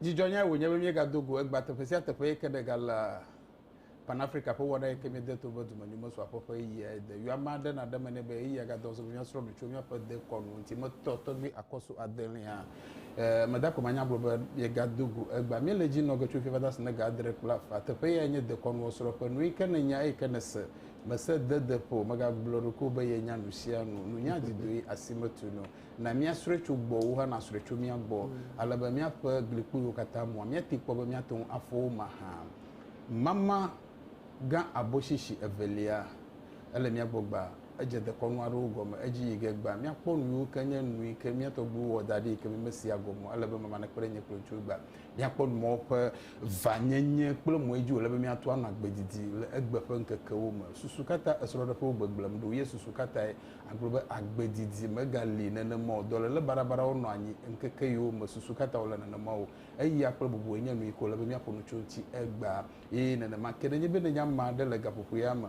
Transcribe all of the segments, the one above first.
Dzidzɔnyae wònye be míegado go egbea teƒe sia teƒe yi ke ɖega le Pan-Afrika ƒe wɔna yi ke míede to be dumenyo mesu aƒe ƒe ɣeyiɣi ayi de. Yɔ ame aɖe nàɖe eme nɛ be ɣeyiɣia gadɔ azɔ be míasrɔ̃ nu tso míaƒe dekɔnu ŋuti. Metɔ tɔgbi akɔsu adelẽa. Ɛɛ, meda akpe manya agblɔ be míegado go egbea. Míele edzi nɔ ge tso fifia va se na ga adre kple afã. Teƒe yae nye dekɔnua srɔ̃ƒe. Nuyi ke nènya eyi ke nèse. Mèse dedeƒo o. Mègagblɔ ɖokuiwò be yenya nusianu. Nunya didoe, asi metunu o. Na míasrɔ̃e tso gbɔwò hã nasrɔ̃e tso mía gbɔ, ale be míaƒe glikpuiwo katã mua. Míatee kpɔ be míate ŋu afɔ wo mahã. Mama gã aboshishi evelia, ele mía gbɔ gbaa. Edze dekɔnu aɖewo gɔme. Edzi yi ge gbaa. Míakpɔ nu yiwo ke nye nu yi ke mía tɔgbuiwo wɔ da ɖi yi ke mi mesia gɔme o. Ele be mama nekpe ɖe nye kple ŋutsuwo gbaa. Míakpɔ nu mawo ƒe vanyenye kple mɔe dzi wòle be míato anɔ agbe didi le egbe ƒe ŋkekewo me. Susu ka ta esrɔ̃ɖeƒewo gbegblẽm ɖo, ye susu ka tae Agblɔ be agbe didi megali nenema o. Dɔléle baɖabaɖawo nɔ anyi ŋkeke yiwo me susu katã wòle nenema o. Eya kple bubue nye nuyi ke wòle be míaƒo nu tso eŋuti egbea. Ye nenema ke, nenye be nenye ame aɖe le gaƒoƒoea me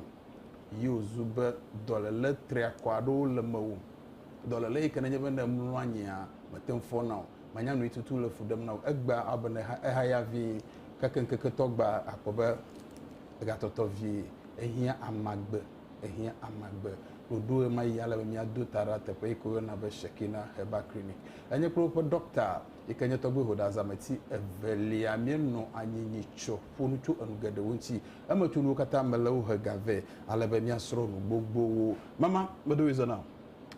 yi wòzu be dɔléle triakɔ aɖewo le mewò, dɔléle yi ke nenye be ne èmlɔ anyia, mète ŋu fɔna o, manya nuyi tutu le fu ɖem na wò egbea, awɔ be nèha ehaya vĩi. Gake ŋkeketɔ gbea, àkpɔ be egatɔtɔ vie, ehiã amagbe. ehiã amagbe ɖoɖo ɣemaɣi ale be míado ta ɖa teƒe yi ke woyɔna be Shekinah Herbal Clinic. Enye kple woƒe ɖɔkta yi ke nye Tɔgbe Hoda Zameti evelia míenɔ anyi nyi tsɔ ƒo nu tso enu geɖewo ŋuti. Emetunuwo katã mele wo he ga vɛ ale be míasrɔ̃ nu gbogbowo. Mama, meɖo ɣi zɔ na wò.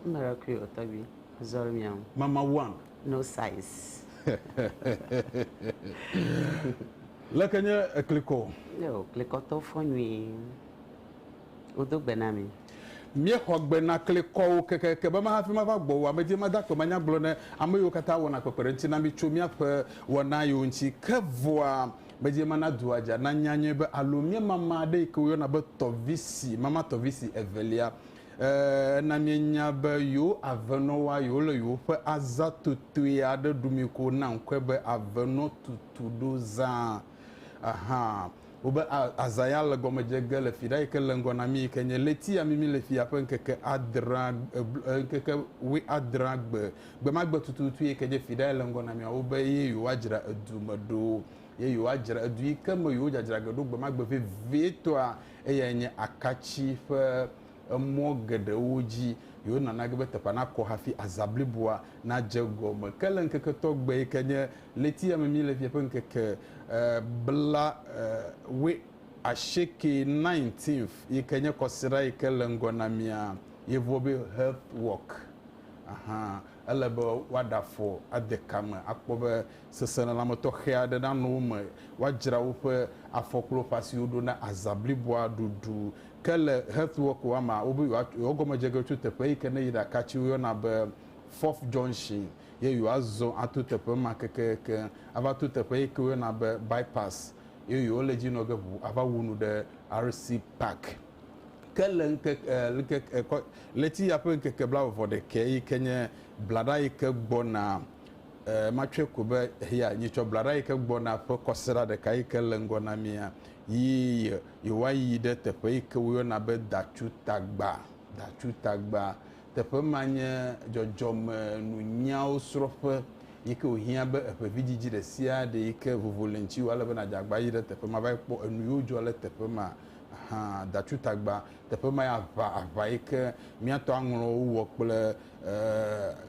Meɖo ɣi o tɔgbi, zɔ le mía ŋu. Mama one. No size. Leke nye eklikɔ? Yoo, klikɔtɔwo fɔ nyuie. Wodo gbe na mi. Míexɔ gbe na klikɔwo kekeake be mahafi mava gbɔwò amedzi mada akpe manyagblɔ ne ame yiwo katã wɔna kpekpeɖeŋuti na mí tso míaƒe wɔna yiwo ŋuti. Ke vɔa, medie mana dua dza nanya nyuie be alo míemama aɖe yi ke woyɔna be tɔvisi mama tɔvisi evelia. E, ena míenya be yewo avenɔwoa yewole yewoƒe azã totoe aɖe ɖumii ko na ŋkɔe be avenɔtutuɖozã. Aha, wobe azaya le gɔme dze ge le fiɖa yike le ŋgɔ nami yike nye leti ya mimi le fia ƒe ŋkeke adrea ŋkeke we adrea gbe gbema gbe tututu yike nye fiɖa ya le ŋgɔ namia wobe ye yewoa dzra edu me ɖo ye yewoa dzra edu yike me yewo dzadzra ge ɖo gbema gbe vevie tɔa eya nye akatsi ƒe emɔ geɖewo dzi yewonɔ nage be teƒea nakɔ hafi azã bliboa nadze egɔme. Ke le ŋkeke tɔgbe yi ke nye ɣleti ya me míle fia ƒe ŋkeke bla wue asieke, nineteenth, yi ke nye kɔsiɖa yi ke le ŋgɔ na mía yevua be Health Walk hã, ele be woaɖe afɔ ade ka me akpɔ be seselelãme tɔxɛ aɖe nanɔ wo me, woadzra woƒe afɔ kple woƒe asiwo ɖo na azã bliboa ɖuɖu Ke le xexeɔ ko amea wobe yewoatso yewoagɔmedzege tso teƒe yi ke ne yi ɖaka tsi woyɔna be Fourth Junction ye yewoazɔ ato teƒe ma kekeeke ava to teƒe yi ke woyɔna be Bypass ye yewole edzi nɔ ge ŋu ava wu nu ɖe RC Park. Ke le ŋkeke e ŋkeke e kɔ ɣleti ya ƒe ŋkeke blaeve-vɔ-ɖekɛ yi ke nye blaɖa yi ke gbɔna e matsɔe ko be eya nyitsɔ blaɖa yi ke gbɔna ƒe kɔsiɖa ɖeka yi ke le ŋgɔ na mia yi ye yewoayi ɖe teƒe yi ke woyɔna be Datsutagba, Datsutagba. Teƒe ma nye dzɔdzɔmenunyawo srɔ̃ƒe yi ke wòhiã be eƒe vidzidzi ɖe sia ɖe yi ke vovo le ŋutiwò ale be nàdze agbagba ayi ɖe teƒe ma va yi kpɔ enu yiwo dzɔ le teƒe ma hã. Datsutagba, teƒe mae aʋa, aʋa yi ke míatɔ aŋlɔ wo wɔ kple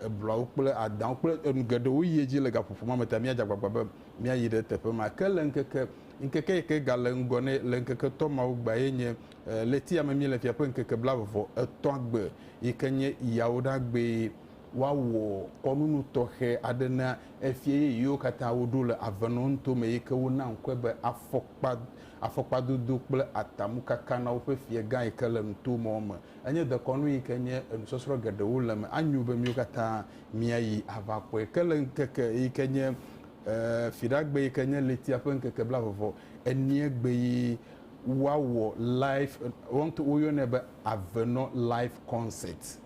ebluawo kple adawo kple enu geɖewo yi edzi le gaƒoƒo ma me ta míadze agbagba be míayi ɖe teƒe ma. Ke le ŋkeke Ŋkeke yi ke gale ŋgɔ nɛ le ŋkeke etɔ̃ mawo gbea ye nye ɣleti ya me míele fia ƒe ŋkeke blaveve etɔ̃a gbe yi ke nye Yawuɖagbee. Woawɔ kɔnunu tɔxɛ aɖe na efia yeye yiwo katã woɖo le Avenɔnuto me yi ke wona ŋkɔe be afɔkpa, afɔkpadodo kple atamukaka na woƒe fiagã yi ke le nuto mɔ me. Enye dekɔnu yi ke nye enusɔsrɔ̃ geɖewo le eme. Anyo be míwo katã míayi avakpɔe. Ke le ŋkeke yi ke nye. E, Fiɖagbe yi ke nye ɣletia ƒe ŋkeke blavevɔ enie gbe yi woawɔ live, woŋt woyɔnɛ be Avenɔ Live Concert.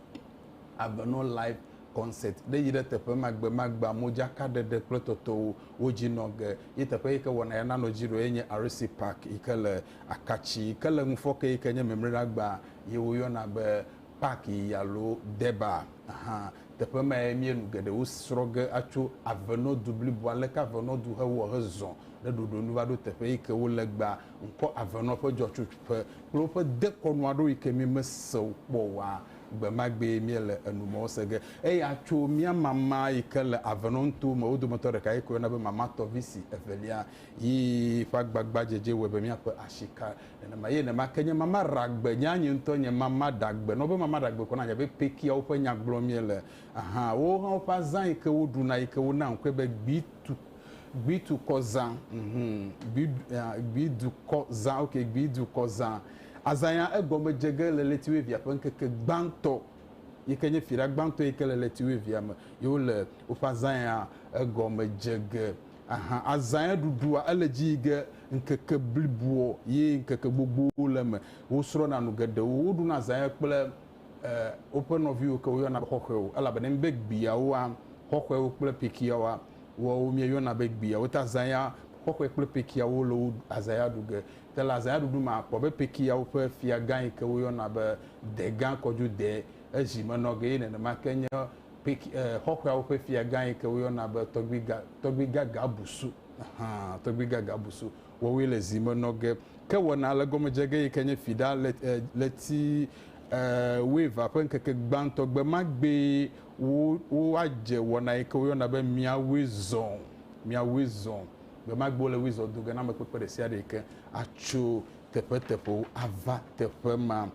Avenɔ Live Concert ɖe yi ɖe teƒe ma gbe ma gbea modzaka ɖeɖe kple tɔtɔwo wo dzi nɔ ge. Ye teƒe yi ke wɔna ya nanɔ dzi ɖo ye nye RC Park yi ke le Akatsi yi ke le ŋufɔke yi ke nye Memleɖagba ye woyɔna be Paki alo Deba hã. Teƒe mae míe nu geɖewo srɔ̃ ge atso avenɔdu bliboa, aleke avenɔdu hewɔ hezɔ ɖe ɖoɖo nu va ɖo teƒe yi ke wole egbea, ŋkɔ avenɔ ƒe dzɔtsoƒe kple woƒe dekɔnu aɖewo yi ke míemese wo kpɔ oa. Gbe ma gbee míe le enu mawo se ge. Eya tso mía mama yi ke le avenɔ nutowo me wo dometɔ ɖeka yi ke woyɔna be Mama Tɔvisi Evelia yi ƒe agbagbadzedze wɔe be míaƒe asi ka Nenema ye ne make nye mama ɖagbe nye anye ŋutɔ nye mama ɖagbe nɔ be mama ɖagbe kɔ na nye be pekia woƒe nya gblɔ mie le aha wo hã woƒe azã yi ke wo ɖuna yi ke wo na ŋkɔe be gbi tu gbi tu kɔ zã mhm gbi gbi du kɔ zã ok gbi du kɔ zã azã ya egɔme dze ge le leti wevia ƒe ŋkeke gbãtɔ yi ke nye fira gbãtɔ yi ke le leti wevia me ye wo le woƒe azã ya egɔme dze ge Ahan azãe ɖuɖua ele dzi yi ge ŋkeke bliboɔ ye ŋkeke gbogbowo le eme. Wosrɔ̃na nu geɖewo, woɖuna zãe kple e woƒe nɔviwo ke woyɔna be xɔxɔewo elabena mi be gbiawoa, xɔxɔewo kple pekiawoa, woawo mieyɔna be gbiawo. Ta zãea xɔxɔe kple pekiawo le wo azãea ɖu ge. Te le azãea ɖuɖu me akpɔ be pekiawo ƒe fiagã yi ke woyɔna be degã kɔdjo de ezi me nɔ ge ye nenema ke nye Pik, e, xɔxɔeawo ƒe fiagã yi ke woyɔna be tɔgbiga, tɔgbiga Gabusu, hã, tɔgbiga Gabusu, wɔwoe le zi me nɔ ge. Ke wɔna le gɔme dze ge yi ke nye fiɖa le, e, ɣleti, e, wuievea ƒe ŋkeke gbãtɔ gbe ma gbee wo, woadze wɔna yi ke woyɔna be Mia Wui Zɔ, Mia Wui Zɔ. Gbe ma gbe wole wui zɔ do ge na amekpekpe ɖe sia ɖe yi ke atso teƒeteƒewo ava teƒe ma.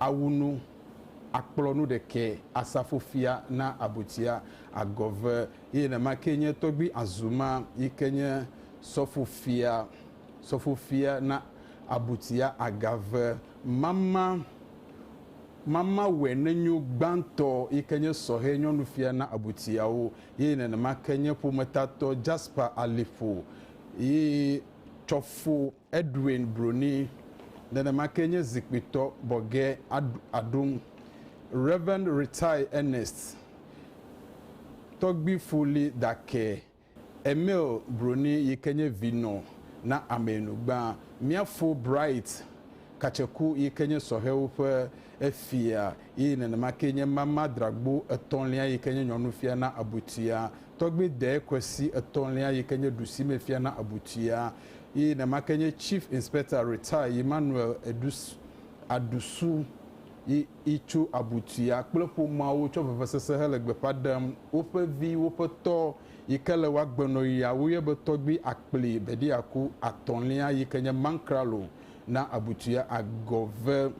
awu nu, akplɔ nu ɖekɛ, asafo fia na abutia, agɔ ve, eye nenema kee nye tɔgbui Azuma yi ke nye sɔfo fia, sɔfo fia na abutia, aga ve, mama, mama wɛnenyo gbãtɔ yi ke nye sɔhɛ nyɔnu fia na abutiawo, eye nenema ke nye ƒometatɔ Jasper Aliƒo yi tsɔfo. Edwin Bruni, nenema kee nye zikpuitɔ bɔgɛ aɖum, Rev. Ritai Ernest Tɔgbi Fuli Dake, Emil Bruni yi ke nye vinɔ na Ameyinugba, Miafo Bright Katseku yi ke nye sɔhɛwo ƒe efia eye nenema kee nye Mama Dragbo Etɔ̃lia yi ke nye nyɔnufia na Abutia, Tɔgbi Dee Kwesi Etɔ̃lia yi ke nye ɖusimefia na Abutia. Ye ne make nye Chief Inspector Retire yi Manuel Edus Adusu yi yi tso Abutuya kple ƒomeawo tsɔ vevesese hele gbeƒa ɖem woƒe vi woƒe tɔ yi ke le woagbenɔ yia woyɔe be tɔgbi akpli Bediaku atɔ̃lia yi ke nye Mankralo na Abutuya Agɔve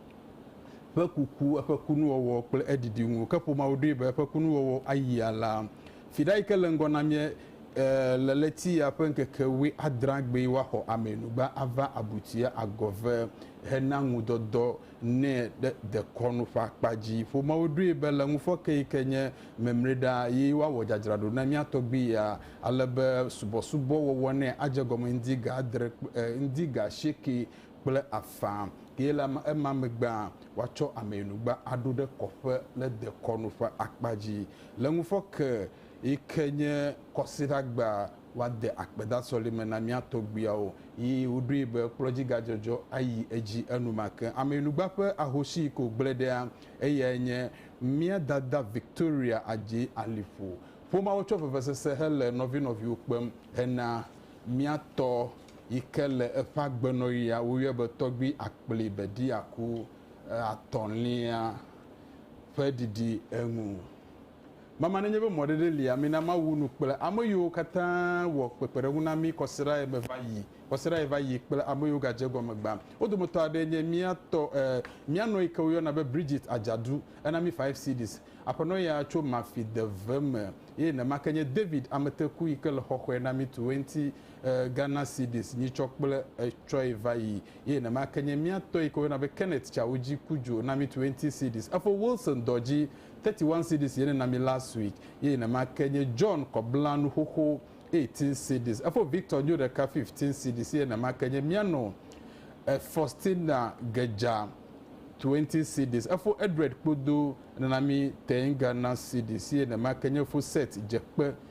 ƒe kuku eƒe kunuwɔwɔ kple eɖiɖi ŋu ke ƒomeawo ɖoe be eƒe kunuwɔwɔ ayi alea Viɖe yi ke le ŋgɔ na mía le ɣleti ya ƒe ŋkeke wuiadrea gbee woaxɔ ameyinugba ava abutia agɔve hena ŋudɔdɔ nɛ ɖe dekɔnu ƒe akpa dzi. Ƒomeawo ɖoe be le ŋufɔke yi ke nye memliɖa ɣi woawɔ dzadzraɖo na mía tɔgbui ya ale be subɔsubɔ wɔwɔ nɛ adze gɔme ŋdi ga adre ŋdi ga asieke kple afã eye le ema megbea woatsɔ ameyinugba aɖo ɖe kɔƒe le dekɔnu ƒe akpa dzi. Le ŋufɔ ke yi ke nye Kɔsiɖagba woade akpeda sɔlime na mía tɔgbuiawo yi woɖoe be kplɔdzigadzɔdzɔ ayi edzi enumake. Ameyinugba ƒe ahosi yi ke wògblẽ ɖea, eyae nye mía dada Victoria Adjei Alifo. Ƒomeawo tsɔ vevesese hele nɔvinɔviwo kpem hena mía tɔ yi ke le eƒe agbenɔɣia, woyɔe be Tɔgbui Akpli Bediaku Atɔ̃lia. ƒe ɖiɖi eŋu. Mama nenye be mɔ ɖeɖe lia, mina Mawu nu kple ame yiwo katã wɔ kpekpeɖeŋu na mí kɔsiɖaɣi me va yi, kɔsiɖaɣi va yi kple ame yiwo gadze egɔme gbã. Wo dometɔ aɖee nye mía tɔ, e, mía nɔ yi ke woyɔna be Bridget Adzadu. Ena mí five cedis. Aƒenɔ ya tso Mafideve me. Ye nema ke nye David Ameteku yi ke le xɔxɔe na mí tu eŋti, e, Ghana cedis nyitsɔ kple etsɔe va yi Eye nema ke nye mía tɔ yike woyɔna be Kenneth Chawuji ku dzo na mí twenty cedis. Efo Wilson Dɔdzi thirty one cedis ye ne na mí last week. Eye nema ke nye John Kɔbla nu xoxo eighteen cedis. Efo Victor Nyo ɖeka fifteen cedis eye nema ke nye mía nɔ e Faustina Gedja twenty cedis. Efo Edred Kpodo nena mí ten Ghana cedis eye nema ke nye fo Seth Dzekpe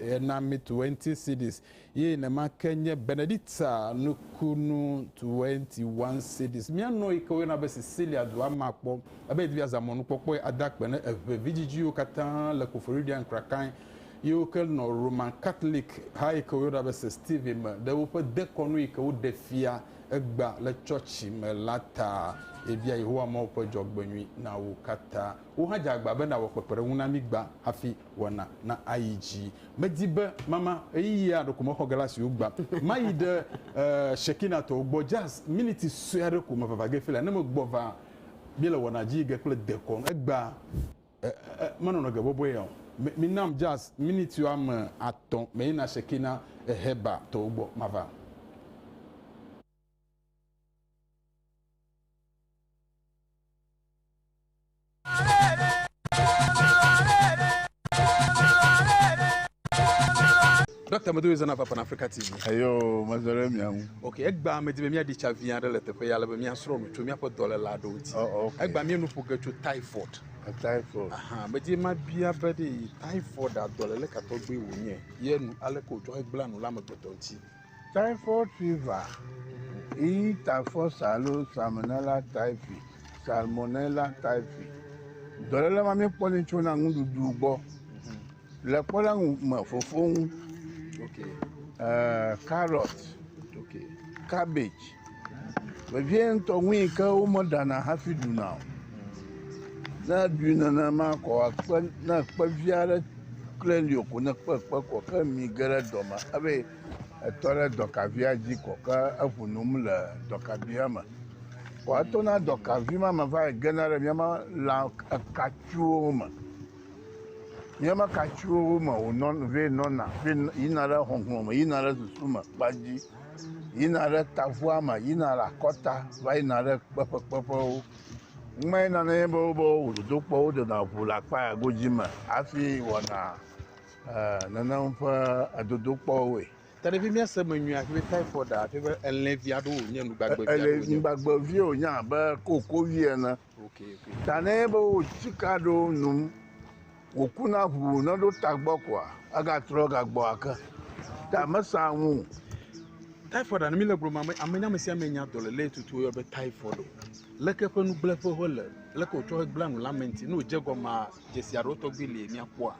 Ena mi Twenty Cedis ye nema ke nye Benedicta nukunu Twenty One Cedis. Mía nɔ yi ke woyɔna be Sicilia dua ma kpɔ ebe yedi be yeazã mɔnukpɔkpɔe ada akpe ne eve vidzidziwo katã le Koforidua Nkrakai yiwo ke nɔ Roman Katolek ha yi ke woyɔna be St. Stephen me ɖe woƒe dekɔnu yi ke woɖe fia egbea le tsɔtsi me la ta. Yebia Yehowa Mawu ƒe dzɔgbenyui na wo katã. Wò hã dze agba bena wòawɔ kpekpeɖeŋu na mí gbã hafi. wɔna na ayi dzi. Medi be mama ɣeyiɣia ɖeko mexɔ ge la si wogbã. Mayi ɖe eh, Shekinah-tɔwo gbɔ jazz miniti sue aɖe ko me vava ge fila. Ne megbɔ va, míele wɔna dzi yi ge kple dekɔnu. Egbea, eh, eh, menɔnɔ ge bɔbɔe ya o. Mi, minam jazz miniti woame atɔ̃ meyina Shekinah eh, Heber tɔwo gbɔ mava. Dɔkta Medowe zana va Pan Africa TV. Eyo, mezɔ ɖe mia ŋu. Ok, egbea medi be míaɖi tsa vi aɖe le teƒe ya ale be míasrɔ̃ nu tso míaƒe dɔléla aɖewo ŋuti. Oh, oh, okay. Egbea míenu ƒo ge tso typhoid. A typhoid. Aha, medi mabia be ɖe typhoid a dɔlele ka tɔgbi wònye ye nu aleke wòtsɔ hegblẽa nu le amegbetɔ ŋuti. Typhoid fever, ii, Typhus alo Salmonella typhi, Salmonella typhi, dɔléle ma míekpɔnɛ tsona nuɖuɖu gbɔ le kpɔɖeŋu me fofo ŋu. Okay. Uh, carrot, okay. cabbage, Vevie ŋutɔ nui ke womeɖana hafi ɖuna o. Ne eɖui nenema ko akpe ne ekpe vi aɖe klẽ li o ko ne ekpe kpe ko ke mi ge ɖe dɔ me hafi etɔ ɖe dɔkavia dzi ko ke eŋu nom le dɔkavia me. Ko etona dɔkavi ma me va yi gena ɖe míama lã ekatsuwo me. Míama katsuwo me wonɔn vɛ nɔna vɛ yina ɖe hɔhlɔ̃ me yina ɖe susu me kpa dzi. yina ɖe tavua me yina ɖe akɔta va yina ɖe kpeƒe kpeƒewo. Nume nana ye be wobe wɔ dodokpɔ wo dona ŋu le akpa ya godzi me hafi wɔna e nenem ƒe edodokpɔwoe. Taɖevi míase me nyuie hafi be typhoid hafi be elẽvi aɖewo wonye nugbagbevi aɖewo wonye. Elẽvi gbagbevi wonye abe kokovi ene. Tanɛ be wo tsika ɖo num wòku na ŋu ne ɖo tagbɔ koa egatrɔ gagbɔ ake ta mesã ŋu. Typhoid ane mi le gblɔm ame ame ame sia ame nya dɔlele tutu yɔ be typhoid o. Leke ƒe nugblẽƒe wole leke wotsɔ gblẽ nu le ame ŋuti ne wodze gɔmea dzesi aɖewo tɔgbi li mia kpɔa.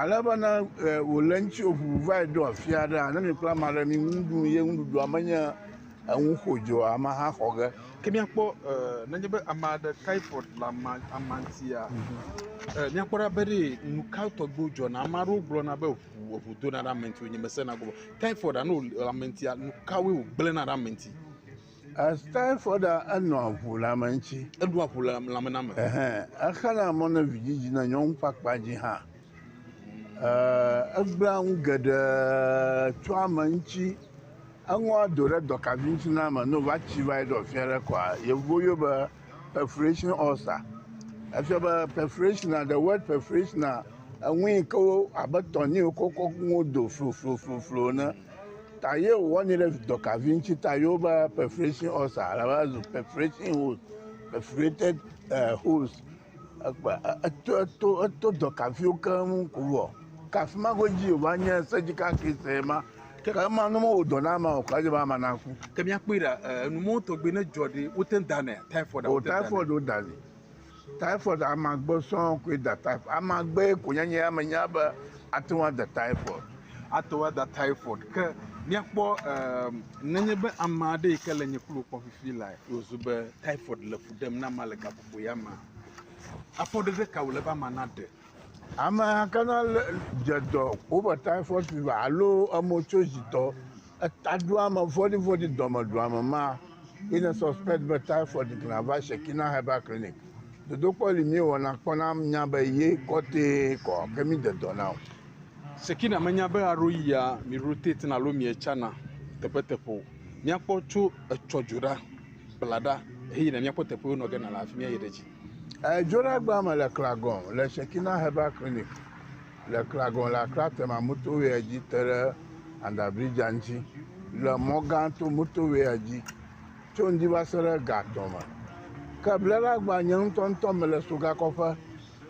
Ale be ne e, wòle ŋuti wòʋuʋu va yi ɖo afi aɖea, ne mìkpla ame aɖe mì ŋu ɖum ye nuɖuɖua menye enu xodzo o, amea hã xɔ ge. Ke míakpɔ e, nenye be ame aɖe typhoid le ama, ama ŋutia, e, míakpɔ ɖa be ɖe nu ka tɔgbiwo dzɔna. Ame aɖewo gblɔna be ʋu, eŋu dona ɖe ame ŋuti, nye mesena gbɔ o. Typhoid ne wòle ame ŋutia, nu kawoe wògblẽna ɖe ame ŋuti? As typhoid enɔa ŋu le ame ŋuti. Eɖua ŋu le lãmename. Exana mɔ ne vidzidzi ne nyɔnu ƒe akpa dzi hã. Egblẽa nu geɖe tso ame ŋuti. Eŋɔa do ɖe dɔkavi ŋuti na ame ne wova tsi va eɖɔ fi aɖe kɔa, yevuwo yɔɛ be perforation ulcer. Efia be perforation, the word perforation, enu yi ke wo abe tɔnee wokɔ kɔ nuwo do floflofloflo ene. ta ye wowɔ ni ɖe dɔkavi ŋuti ta ye wobe perforation ulcer ale va zu perforation hole perforated uh, holes ekpe eto eto eto dɔkaviwo keŋ ko wɔ kafi ma godzi wòva nye sedzi kakɛ sɛ ma ke ka ema ne mewɔ dɔ na ama o kɔ edze be ama naku. ke míakpɔe ɖa eh, enumɔwo tɔgbi ne dzɔ ɖi wote ŋu danɛ typhoid o typhoid wodanɛ Typhoid amagbe sɔŋ koe da typhoid. Amagbe ko nye nye ya menya be ate ŋu ada typhoid. Ate ŋu ada typhoid ke míakpɔ emm nenye be ame aɖe yi ke le nye kplu kpɔm fifi la wòzu be typhoid le fu ɖem na ma le gaƒoƒo ya mea, afɔɖeɖe ka wòle be ama naɖe? Ame ka na le dze dɔ wobe typhoid fever alo emotsodzitɔ. Etaɖoame vɔ̃ɖivɔ̃ɖi dɔmedɔame ma ye ne suspect be typhoid kina va Shekinah Herbal Clinic. Dodokpɔ li míewɔna kpɔna mía be ye kɔtee kɔ ke mide dɔ na o. Shekinah menya be aɖo yia mi rotate-na alo mietsana teƒeteƒe o. Míakpɔ tso etsɔ dzo ɖa, kpla ɖa heyina míakpɔ teƒewo nɔ ge na le afi mía yi ɖe dzi. Edzoɖagbea me le Klagɔn le Shekinah Herbal Clinic. Le Klagɔn la, Kla Tema Motorwaya dzi te ɖe Under Bridge-a ŋuti le Mɔ Gã To Motorwaya dzi tso ŋdi va se ɖe Gatɔn me. Ke bleɖeagbã nye ŋutɔŋutɔ mele Sogakɔƒe.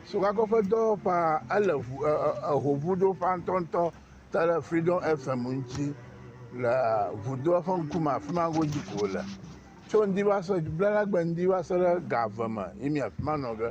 Sogakɔƒe dɔwɔƒea ele ŋu e e ehoŋuɖoƒea ŋutɔŋutɔ te ɖe Freedom FM ŋuti le ŋudoa ƒe ŋkume afi ma godzi ko wòle. Tso ŋdi va se bleɖeagbã ŋdi va se ɖe ga eve me ye mí afi ma nɔ ge.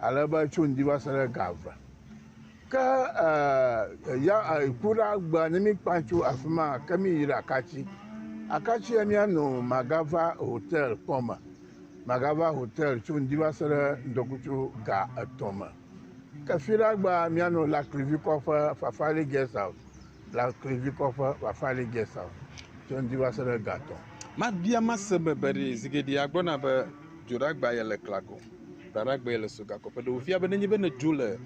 ale be tso ŋdi va se ɖe ga eve. Ke e ya e ku ɖa gbea ne míkpa tso afi ma ke míyi ɖe akatsi. Akatsi ya míano magava hotel kpɔ me. Magava hotel tso ŋdi va se ɖe ŋdɔkutsu ga etɔ̃ me. Ke fi ɖa gbea míano Laklivi kɔƒe Fafali guest house. Laklivi kɔƒe Fafali guest house tso ŋdi va se ɖe ga etɔ̃. Mabia mase be beɖi zigeɖia gbɔna be dzoɖagba yele klago. Bladagbe le sogakɔƒe ɖewo fia be nenye be ne dzo le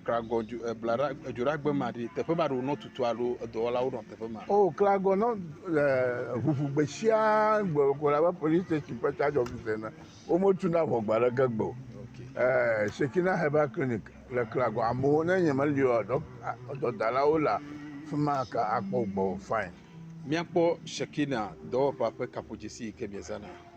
klagɔ dzo blada dzoɖagbe ma ɖi teƒe ma ɖo nɔ tutu alo edɔwɔlawo nɔ teƒe ma. O oh, klagɔ nɔ ʋuʋu gbe sia gbe ko la be police station ƒe charge officer na wometu na ʋɔ gba ɖe ge gbe o. Eh, Shekina Herbal Clinic le klagɔ amewo ne nye meli o dɔdalawo la fima ka akpɔ gbɔ fine. Miakpɔ Shekina dɔwɔƒa ƒe kaƒodzesi yi ke miezana.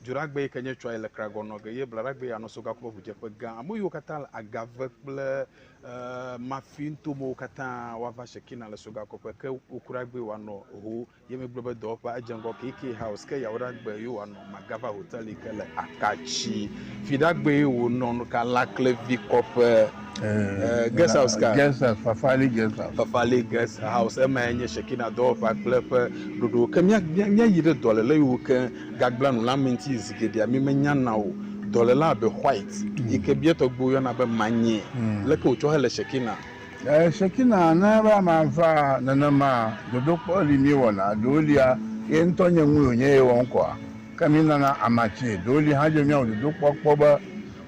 Dzoɖagbe yi ke nye Tsɔayi le Kragɔ nɔ ge ye Blaɖagbe ya nɔ Sogakume ŋudzeƒe gã. Ame yiwo katã le Agave kple e, Mafi nuto mewo katã woava Shekina le Sogakɔƒe ke Wokuragbee woanɔ ho ye megblɔ be dɔwɔƒea edze ŋgɔ KK House ke Yawoɖagbe ye woanɔ Magava Hotel yi ke le Akatsi. Fiɖagbee wonɔ nu ka Laklevi kɔƒe e, Guest House ka? Guest House, Fafali Guest House. Fafali Guest House emae nye Shekina dɔwɔƒea kple eƒe ɖoɖowo ke mía, mía, míayi ɖe dɔléle yiwo ke Gagblẽnulãmeti zi geɖea mi menyana o. Dɔlelã abe White yi ke bia tɔgbuiwo yɔna be manyee. Leke wòtsɔ hele Shekinah? Ɛɛ, Shekinah nana be ame ava nenema. Dodokpɔ li míewɔna. Ɖewo lia, ye ŋutɔ nye nue wònye ye wɔm kɔa? Ke mínana amatsee. Ɖewo li hã edzɔe be míawɔ dodokpɔ kpɔ be,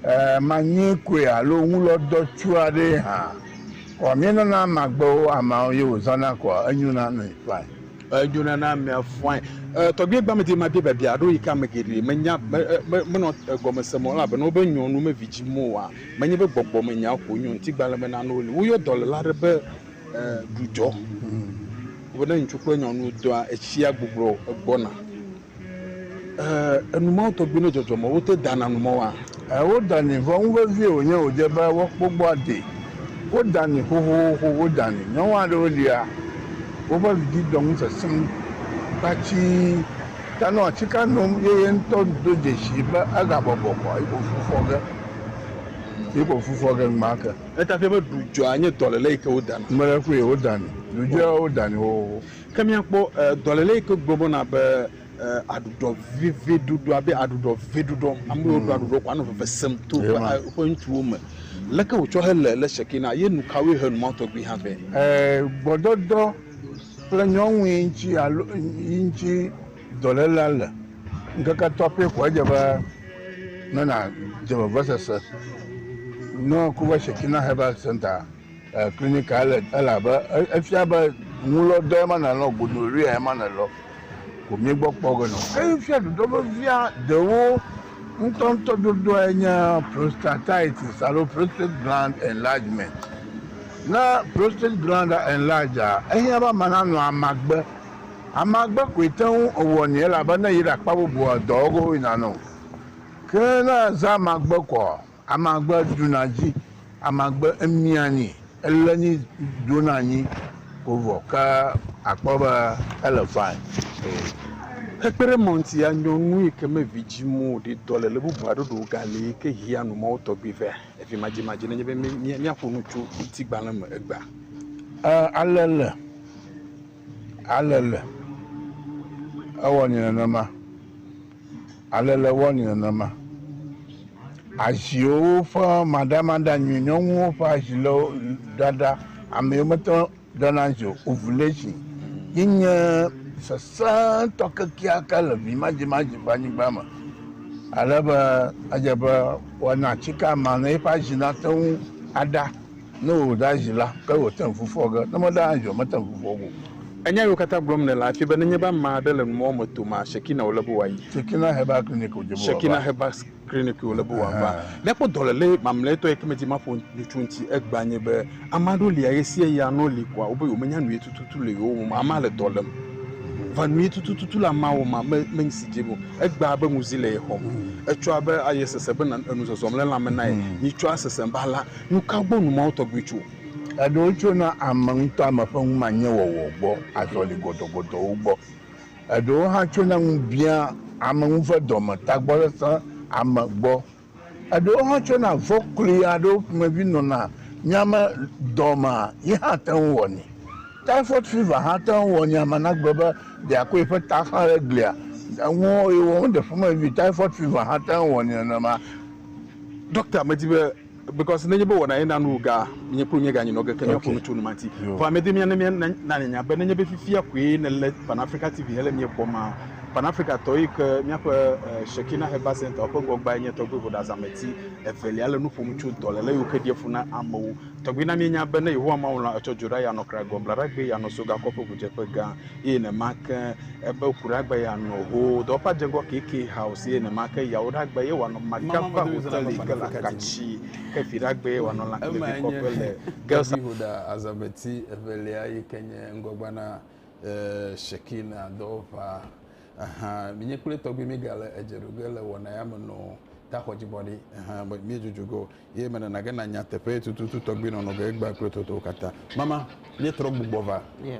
ɛɛ, manyee koe alo ŋulɔdɔ tsu aɖee hã. Kɔ míenana ama gbe wo, ameawo ye wòzãna kɔa, enyona nɛ fain. Edzona na amea fɔae. Tɔgbie gbame di mabia biabia aɖewo yi ke ame geɖe menya, menɔ egɔme sem o, elabena wobe nyɔnu mevidzim oa? Menye be gbɔgbɔmenyawo ko nyo ŋutigbalẽmenanuwo li. Woyɔ dɔléla aɖe be ɖudzɔ. Wobe ne ŋutsu kple nyɔnu dɔa, etsia gbublɔ gbɔna. Ɛɛ, enu mawo tɔgbi ne dzɔdzɔ mɔ wote dana nu mɔ wa? Ɛɛ, wo dani, vɔ ŋu vevie wònye wòdze be woakpɔ gbɔ ade. Wo dani xoxoxo, wo dani. Nyɔnu aɖewo lia, woƒe vidzĩ dɔ ŋu sesẽ kpatsii ta nɔ atsika nom ye ye ŋutɔ do dzesii be egabɔbɔ kɔ yi ko fu fɔ ge. Yi ko fu fɔ ge enumake. Eya ta ƒe be ɖudzɔa nye dɔlele yi ke wodana. Mele kpɔe, wo dani. Ɖudzɔa, wo dani xoxoxo. Ke míakpɔ dɔléle yi ke gblɔ be wona be aɖuɖɔ veve ɖuɖɔ abe aɖuɖɔ veve ɖuɖɔ. Ame yiwo ɖu aɖuɖɔ ko anɔ veve sem to woƒe ŋutsuwo me. Leke wòtsɔ hele le sheke na ye nukawoe he nu ma tɔgbi hã vɛ? Gbɔdɔdɔ kple nyɔnui ŋuti alo yi ŋuti dɔlélea le. Ŋkeke etɔ̃ pɛ koe edze be ne nàdze vevesese. Ne woku be shekina hebal sɛntaa. Klinika le elabe efia be ŋulɔ dɔ ema nalɔ gonoria ema nalɔ ko mi gbɔ kpɔ ge nɔ. Eyi fia ɖuɖɔ vevia ɖewo ŋutɔŋutɔ ɖuɖɔ enye prostatitis alo prostate gland enlargement. Ne prostate gland enlarge a ehiã be ama nanɔ amagbe. Amagbe koe te ŋu ewɔ ni elabe ne yi ɖe akpa bubua dɔwo go yina nɔ. Ke ne eze amagbe kɔa Amagbe ɖuna dzi, amagbe emia nyi, ele nyi dona nyi ko vɔ ke akpɔ be ele fine. Hekpe ɖe ema ŋuti, anyɔnu yi ke me vi dzim o ɖi dɔle le bubu aɖe ɖo gali yi ke hea nu Mawu tɔgbi vɛ. Evi madzimadzi nenye be míaƒo nu tso ŋutigbalẽ me egbea. E, ale le. Ale le. Ewɔ nɛ nenema. Ale le wɔ ni nenema. Aziwo ƒe maɖamaɖa nyui. Nyɔnuwo ƒe azi le wo ɖaɖa. Ame yiwo mete ŋu ɖana azi o, ovulation, ye nye sesẽtɔ kekeake le vimadzimadzi ƒe anyigba me. Ale be edze be woana atsike ama ne eƒe azi nate ŋu aɖa. Ne wòɖe azi la, ke wòte ŋu fɔ ge, ne meɖe azi o, mete ŋu fɔ ge o. Enya yiwo katã gblɔm nèle afie be nenye be ame aɖe le numɔ̃ me tom a, Shekinah wòle be wòayi. Shekinah Herbal Clinic wòdze be wòava. Shekinah Herbal Clinic wòle be wòava. Míakpɔ dɔléle mamlɛtɔ yi ke medi maƒo nu tso eŋuti egbea nye be, ame aɖewo lia ɣesiaɣia nɔ li koa wobe yewomenya nu ye tututu le yewo me o. Amea le dɔ lém. Vɔ nu ye tututu le amea wɔm ma, menyi si dim o. Egbea abe ŋuzi le ye xɔm. Etsɔa be aye sese be enu zɔzɔm le lãme na ye. Nyitsɔa sesem be alã. Nu ka gbɔ nu mawo tɔgbi tso? Eɖewo tsona ame ŋutɔa me ƒe numanyewɔwɔ gbɔ, azɔli gɔdɔgɔdɔwo gbɔ. Eɖewo hã tsona ŋubiã, ame ŋu ve dɔme, tagbɔsesẽ, ame gbɔ. Eɖewo hã tsona vɔ̃ kloe aɖewo ƒomevi nɔna nya me dɔ me ye hã te ŋu wɔnɛ. Typhoid fever hã te ŋu wɔ nya me nagblɔ be ɖeakɔ yeƒe ta xlã ɖe glia ŋu eye wòaɖe ƒomevi. Typhoid fever hã te ŋu wɔ nenema. Ɖɔkta medi be Because nenye be wɔna ye na nu ga nye kplu nye ga nye nɔ ge ke mia ƒonu tso numanti. Vɔ ame de mia ne mia na ne nya be nenye be fifia koe ne le Pan Africa TV hele mia kpɔ ma Pan Africa tɔ yi ke mia ƒe Shekina Herbal Center ƒe gɔgba nye tɔgbe vo ɖa zameti evelia le nu ƒom tso dɔ le le yi ke ɖia fu na amewo tɔgbe na mia nya be ne Yehowa Mawu la etsɔ dzo ɖa ya nɔ kra gɔ blaɖa gbe ya nɔ so gakɔ ƒe ʋudzeƒe gã. eye nema ke ebe kuɖagbe ya nɔ ho dɔ pa jegɔ keke hao si eye nema ke yawo ɖagbe ye wanɔ makia kwa hoteli ke la katsi ke fi ɖagbe wanɔ la ke fi kɔƒe le gelsa hoda azabeti evelia yi ke nye ŋgɔgba na sheki na dɔ ʋa aha mi nye kple tɔgbi mi ga le edze ɖoge le wɔna ya me nɔ ta xɔ dzi bɔ ɖi aha mi dzodzo go Ye menana ge nanya teƒe tututu tɔgbi nɔnɔ ge egbea kple totowo katã. Mama, míetrɔ gbugbɔ va. Yeah.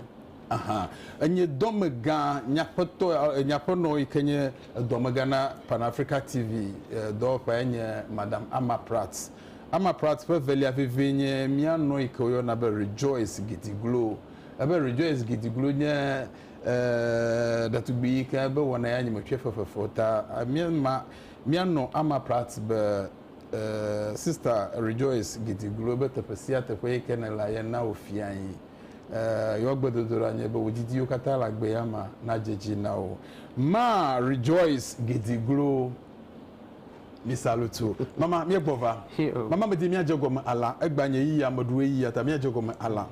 Aha. Enye dɔme gã nyaƒetɔ, nyaƒenɔ yi ke nye dɔmega na Pan Africa TV dɔwɔƒea nye Madame Ama Pratt. Ama Pratt ƒe evelia vevie nye mía nɔ yi ke woyɔna be Rejoice Gidiglo. Ebe Rejoice Gidiglo nye eh, ɖetugbi yi ke ebe wɔna ya nye metsɔe fefefe o ta, míema mía nɔ Ama Pratt be Sista Rejoice Giti gblɔe be teƒe sia teƒe yi ke nèlea, ye na wofiae. Yewo gbedodoɖa nye be wò didiwo katã le agbe ya mea, nadze edzi na wò. Ma Rejoice Giti glo mi salutu. Mama, míegbɔ va. Mama medi míadze egɔme alã. Egbea nye yiyia meɖu eyiyia ta míadze egɔme alã.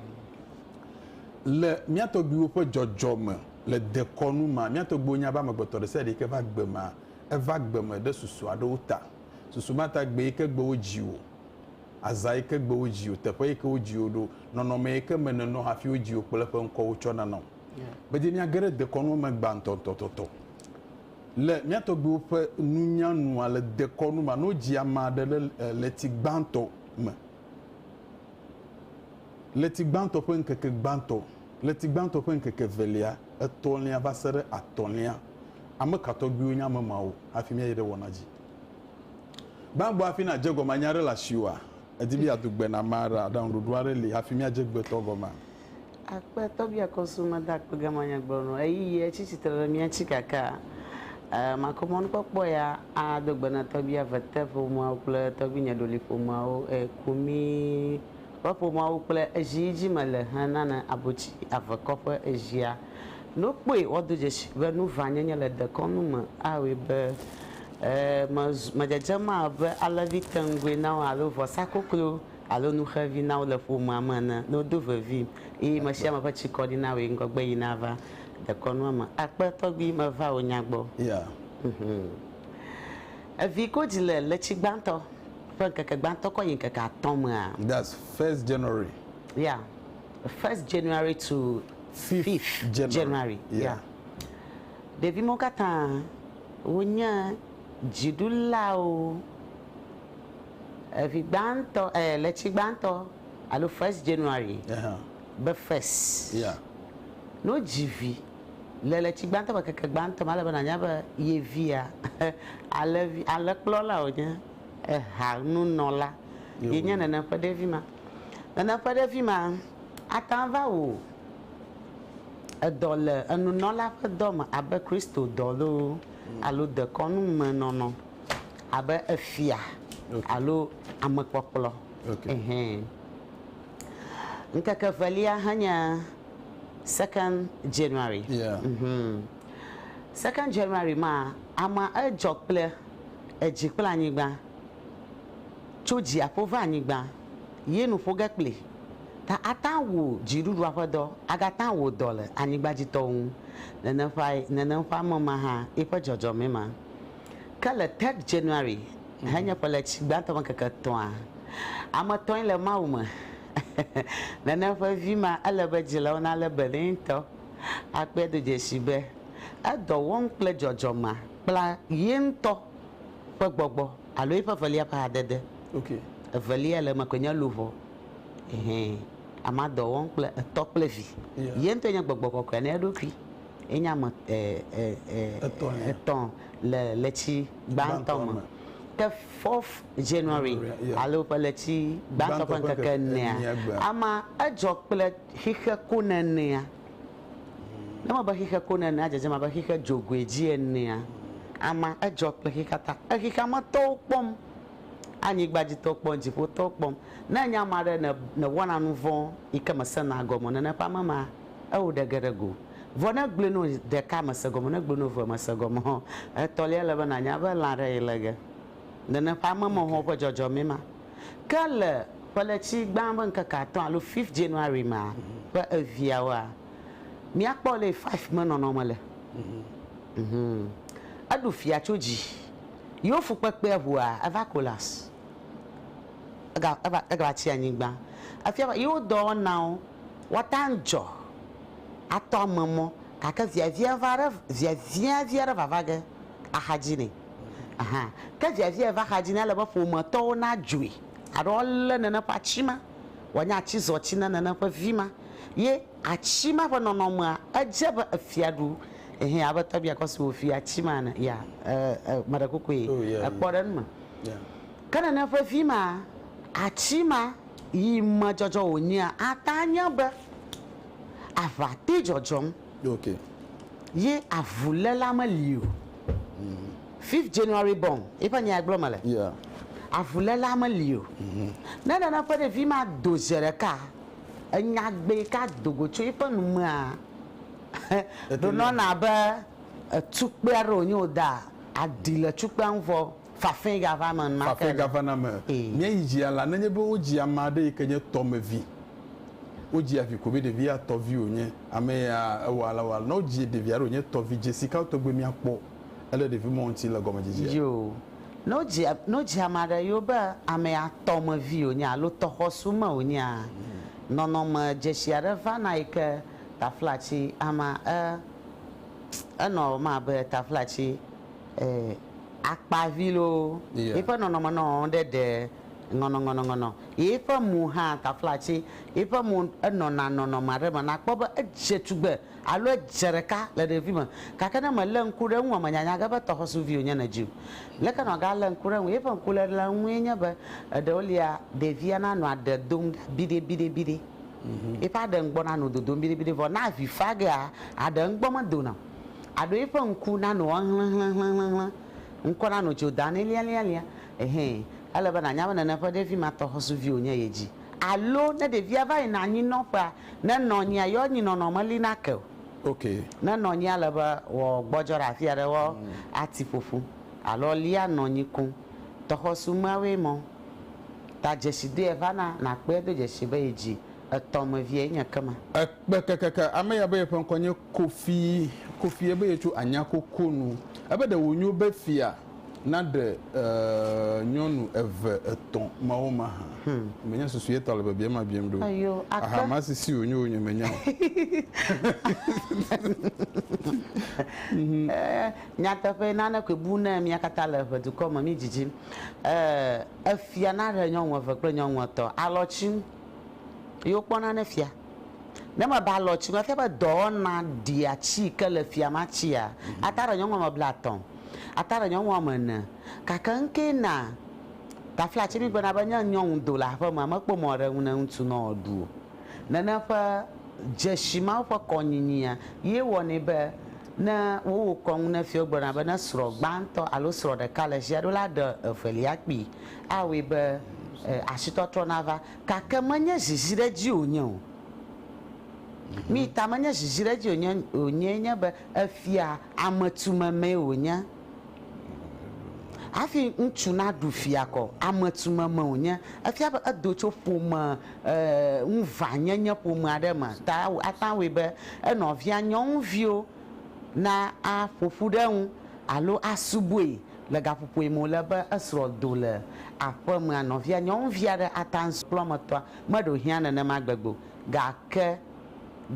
Le mía tɔgbuiwo ƒe dzɔdzɔme le dekɔnu mea, mía tɔgbuiwo nya be amegbetɔ ɖesiaɖe yi ke va gbemea, eva gbeme ɖe susu aɖewo ta. Susu ma ta gbe yi ke gbe wodzi wò, azã yi ke gbe wodzi wò, teƒe yi ke wodzi wò ɖo, nɔnɔme yi ke me nènɔ hafi wodzi wò kple eƒe ŋkɔ wotsɔ nana wò. Bedenia ge ɖe dekɔnua me gbãtɔtɔtɔ. Le mía tɔgbuiwo ƒe nunya nua, le dekɔnu me, alo wodzi ame aɖe ɖe ɣleti gbãtɔ me. Ɣleti gbãtɔ ƒe ŋkeke gbãtɔ, ɣleti gbãtɔ ƒe ŋkeke evelia, etɔ̃lia va se ɖe atɔ̃lia. Ame ka tɔgbiwo nye ame mawo? Hafi míayi ɖe wɔna dzi gbãgbɔ hafi nàdze gɔme anya aɖe le asiwòa? Èdi be yeado gbe na ame aɖea? Aɖaŋuɖoɖo aɖe li hafi míadze gbe tɔ gɔmea? Akpe tɔgbia kɔsu meda akpe gama nyagblɔ nu. Ɣeyiɣi etsi tsitre ɖe mía tsi kaka. Makɔ mɔnukpɔkpɔ ya ado gbe na tɔgbia vete ƒomeawo kple tɔgbinye ɖoli ƒomeawo. Eku mí. Ƒe ƒomeawo kple ezi yi dzi me le he nane abotsi avekɔ ƒe ezia. Ne wokpɔe woado dzesi be nu vã nyenye le dekɔnu me awɔe be e mezu medzedzem abe alẽvi teŋgui na wo alo vɔsa koklo alo nu xevi na wo le ƒomea me ene ne wodo vevim eye me sia me ƒe tsikɔɖi na wɔe ŋgɔgbe yi nava dekɔnua me akpe tɔgbi meva wò nya gbɔ. Yeah. Mhmm. Evi kodzi le ɣleti gbãtɔ ƒe ŋkeke gbãtɔ kɔ yi ŋkeke atɔ̃ mea? That's first January. Yeah, first January to fifth January. Yeah. Ɖevi mawo katã wonye dziɖulawo. Evi gbãtɔ, eh, ɣleti gbãtɔ alo first January be first. Yeah. Ne wodzi vi. Le ɣleti gbãtɔ me, ŋkeke gbãtɔ me, ale be nànya be ye via, alẽvi, alẽkplɔla wònye, eha, nunɔla, yenye nène ƒe ɖevi ma. Nène ƒe ɖevi ma ate ŋu ava wò edɔ le enunɔla ƒe dɔ me abe Kristo dɔ loo alo dekɔnu me nɔnɔ abe efia alo amekpɔkplɔ. Ŋkeke evelia hãnye. Second January. Yeah. Mm -hmm. Second January ma ama edzɔ kple edzi kple anyigba. Tso dziaƒo va anyigba ye nu ƒo ge kpli. Ta ata wu dziɖuɖua ƒe dɔ agata wò dɔ le anyigba dzi tɔwo ŋu. Nene ƒe nene ƒe ame ma hã eƒe dzɔdzɔme ma. Ke le third January henye ƒe le tsi gbãtɔ me keke tɔa. Ame tɔe le Mawu me. Nana ƒe vi ma, ele be dzilawo nalé be nɛ ŋutɔ. Akpɔe do dzesi be edɔ wɔm kple dzɔdzɔ ma kpla ye ŋutɔ ƒe gbɔgbɔ alo eƒe evelia ƒe hadede. Evelia le eme koe nye luʋɔ. Ɛhɛ, amea dɔ wɔm kple etɔ kple vi. Ye ŋutɔe nye gbɔgbɔ kɔkɔea na eɖokui. Enye ame etɔ̃ le tsi gbãtɔ me. Ke fourth January alo ƒe ɣleti gbãtɔ ƒe ŋkeke enea, ama edzɔ kple xixe konenea. Ne eme be xixe konenea dzedzem abe xixe dzogoe dzi enea, ama edzɔ kple xixea ta. Exixea me tɔwo kpɔm, anyigba dzi tɔwo kpɔm, dziƒo tɔwo kpɔm. Ne enye ama ɖe ne newɔna nuvɔ̃ yike mesena gɔme o, nene ƒe ame ma Eo ɖe ge ɖe go. Vɔ ne egblɔe nɔ ɖeka mese gɔme o, ne egblɔe nɔ evea mese gɔme o, etɔlia ele be nanya be lã ɖe yi le ge. Nene ƒe ame me hɔn ƒe dzɔdzɔmee ma. Ke le ƒeletsi gbã ƒe ŋkeke atɔ̃ alo fifth January ma ƒe eveawoa, míakpɔ ale yi five me nɔnɔme le. Mhmm. Eɖu fia tso dzi. Yewo fukpekpea ŋua, eva collapse. Ega, eva, egava tsi anyigba. Efia be yewo dɔwɔnawo. Woatang dzɔ atɔ ame mɔ gake viavia va ɖe viavia vi aɖe vava ge axadzi nɛ. Aha ke viavia yi va xadzi nɛ ele be ƒometɔwo na dzoe alo le nene ƒe atsi ma wòanye atsi zɔ tsi ne nene ƒe vi ma ye atsi ma ƒe nɔnɔmea edze be efia ɖu ehe abe tɔbia kɔ si wòfi atsi ma ene ya e e meɖe kukue ekpɔ ɖe enu me ke nene ƒe vi ma atsi ma Yi me dzɔdzɔ wònyea, ate ŋu anye be aʋa te dzɔdzɔm ye avuléla meli o. Fifth January born ye ƒe nyae gblɔm mele. Avuléla meli o. Ne nane ƒe ɖevi ma do zi ɖeka enya gbee yi ke ado go tso eƒe nu mea, ɖonɔna abe etukpea ɖe wònye wòda aɖi le tukpea ŋu vɔ. Fafɛ gava me ma ke. Fafɛ gava na me. Mía yi dzia la nenye be wo dzi ama ɖe yi ke nye tɔ me vi. Wo dzi avi ko be ɖevi ya tɔ vi wo nye. Ame ya ewa ala wa. Ne wo dzi ɖevi aɖe wo nye tɔ vi dzesi kawo tɔgbe mía kpɔ ele ɖevi mɔ ŋuti le gɔme dzedzia? Yo. Ne wo dzi ne wo dzi ama ɖe yo be ame ya tɔ me vi wo nye alo tɔ xɔsu me wo nyea, nɔnɔ me dzesi aɖe va na yi ke taflatsi ama e enɔ ma be taflatsi e. Akpavi loo, yiƒe nɔnɔme nɔ ɖe ɖe ŋɔnɔŋɔnɔŋɔnɔ, yiƒe mo hã taflatsi, yiƒe mo enɔna nɔnɔme aɖe me nàkpɔ be edze tugbe alo edze ɖeka le ɖevime. Gake ne mèlé ŋku ɖe eŋua, mènyanya ge be tɔxɔsuvi wònye nɛ dzi o. Leke nàgalé ŋku ɖe eŋu? Yiƒe ŋkuléle ŋue nye be eɖewo lia, ɖevia nanɔ aɖe dom ɖa biɖebiɖebiɖe, yiƒe aɖe ŋgbɔ nanɔ dodom biɖebiɖe vɔ ne avi fa gea, aɖe ŋgbɔ medona o. Aɖo eƒe ŋku na no ahlẽhlẽhlẽhlẽ, ŋkɔ na no tso da nɛ lialialia. Ehẽ, ele be nànya be nene ƒe ɖevi ma tɔ xɔsuvi wònye ye dzi. Alo, ne ɖevia va yina anyinɔƒea, ne nɔnyia yɔ anyinɔnɔ meli na ke o. Ok. Ne nɔnyia le be wògbɔdzɔ ɖe afi aɖe wɔ ati ƒoƒu alo lia nɔnyi koŋ, tɔxɔsu meawoe mɔ. Ta dzesi doe va na nàkpɔe do dzesi be ye dzi etɔ̃ me vie nye kema. Ekpe kekeke ame ya be yeƒe ŋkɔ nye Kofi, Kofi ebe yetso anya koko nu. Ebe ɖe wonyo be fia naɖe e nyɔnu eve etɔ̃ mawo mahã. Menye susu ye ta le biabia ma biam ɖo. Ayo, ake. Aha ma sisi wonyo wonyo menya o. E, nyateƒe nane koe bu ne mía katã le ʋe dukɔ me mí dzidzim. E, efia naɖe nyɔnu eve kple nyɔnu etɔ̃ alɔtsi nu. Ye wokpɔna ne fia. Ne mebe alɔ tsi ŋu ebe dɔwɔna ɖia tsi yi ke le fia ma tsia, ata ɖe nyɔnu woame blaetɔ̃, ata ɖe nyɔnu woame ene. Gake nu kee na tafla tsi migblɔna be ne nyɔnu do le aƒemea, mekpɔ mɔ ɖe eŋu ne ŋutsu ne wòaɖu o. Nene ƒe dzesi ma woƒe kɔnyinyia ye wɔnɛ be ne wowɔ kɔnu ne fia wogblɔna be ne srɔ̃ gbãtɔ alo srɔ̃ ɖeka le tsia ɖo la, aɖe evelia kpui. Awɔe be asitɔtrɔ nava. Gake menye ziziɖedzi wònye o. Nui ta menye ziziɖedzi wònye wònyee nye be efia ametumemee wònye. Hafi ŋutsu naɖu fia ko ametumeme wònye. Efia be edo tso ƒome e ŋuvanyenye ƒome aɖe me ta ate ŋu awɔe be enɔvia nyɔnuviwo naƒo ƒu ɖe eŋu alo asubɔe. Le gaƒoƒoe me wòle be esrɔ̃ do le aƒemea, nɔvia nyɔnuvi aɖe ata ŋu kple wɔametɔa meɖo hiã nenema gbegbe o. Gake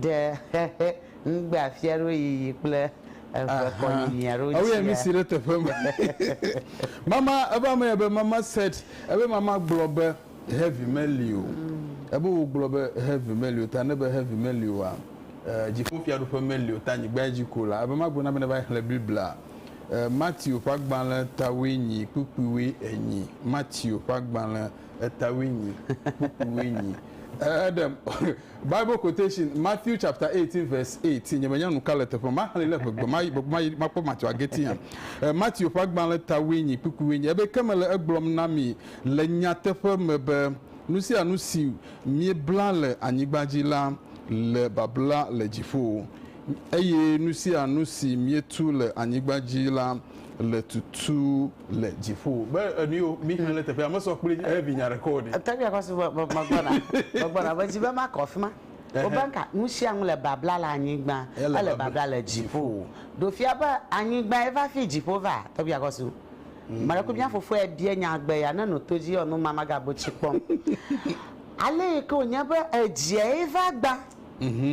ɖe xexe ŋugbe afia ɖewo yiyi kple eve kɔ yiyia ɖo Ewɔe tsia? nusi ɖe teƒe me. Mama, ebe ame ya be mama said, ebe mama gblɔ be heavy meli o. Ebe wogblɔ be heavy meli o ta ne be heavy meli oa, eh, dziƒofiaɖuƒe meli o ta anyigbae dzi ko la. Ebe magblɔ na be neva xlẽ Biblia. E Matthew ƒe agbalẽ tawoe nyi kpukpuiwoe enyi. Matthew ƒe agbalẽ etawoe nyi kpukpuiwoe enyi. E Eɖe Bible quotation, Matthew chapter eighteen verse eight, nye menya nuka le teƒe maxlẽe le ƒegbe ma ɣi ma ɣi makpɔ Matthew ageti hã. E Matthew ƒe agbalẽ tawoe nyi kpukpuiwoe enyi. Ebe ke mele egblɔm na mi le nyateƒe me be nusianu si miebla le anyigba dzi la le babla le dziƒo. Eye nu sia nu si mietu le anyigba dzi la le tutu le dziƒo. Be enu yio mi xlẽ ɖe teƒea mesɔ kpli eh vi nya ɖeke o ɖi. Ete ŋui akɔ su be me me gbɔna me gbɔna me dzi be makɔ afima. Wo be nka nu sia nu le babla le anyigba ele ele babla le dziƒo. Ɖo fia be anyigba ye va fi dziƒo va ete ŋui akɔ su. Maɖe ku mia fofoa ye bia nya gbe ya ne no to dzi yɔ nu ma maga bo tsi kpɔm. Ale yi ke wonye be edzia ye va gba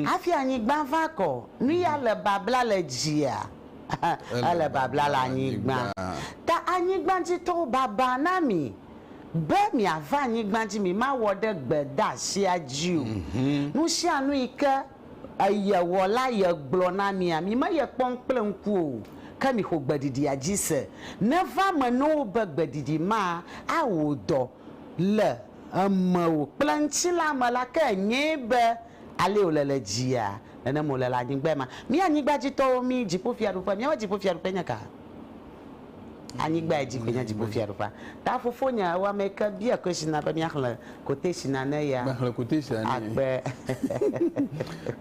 Hafi anyigba va kɔ. Nu ya le babla le dzia, ele babla le anyigba. Ta anyigba dzi tɔwo baba na mi be miava anyigba dzi, mi ma wɔ ɖe gbedeasia dzi o. Nu sia nu yi ke ye wɔ la ye gblɔ na mia, mi me ye kpɔm kple ŋku o, ke mi xo gbeɖiɖia dzi se. Neva me ne wo be gbeɖiɖi ma a wo dɔ. le emeo kple ŋtsilã me la ke nyee be alee wòle le dzia, nenem wòle le anyigbae ma. Mí anyigbadzitɔwo mí dziƒofiaɖuƒe, míaƒe dziƒofiaɖuƒe nye ka? Anyigbae dzi koe nye dziƒofiaɖuƒea. Ta fofonye ewɔ ame yi ke bia kweshina be míaxlẽ koteshina ne ya. Mexlẽ koteshina ne ye. Akpe.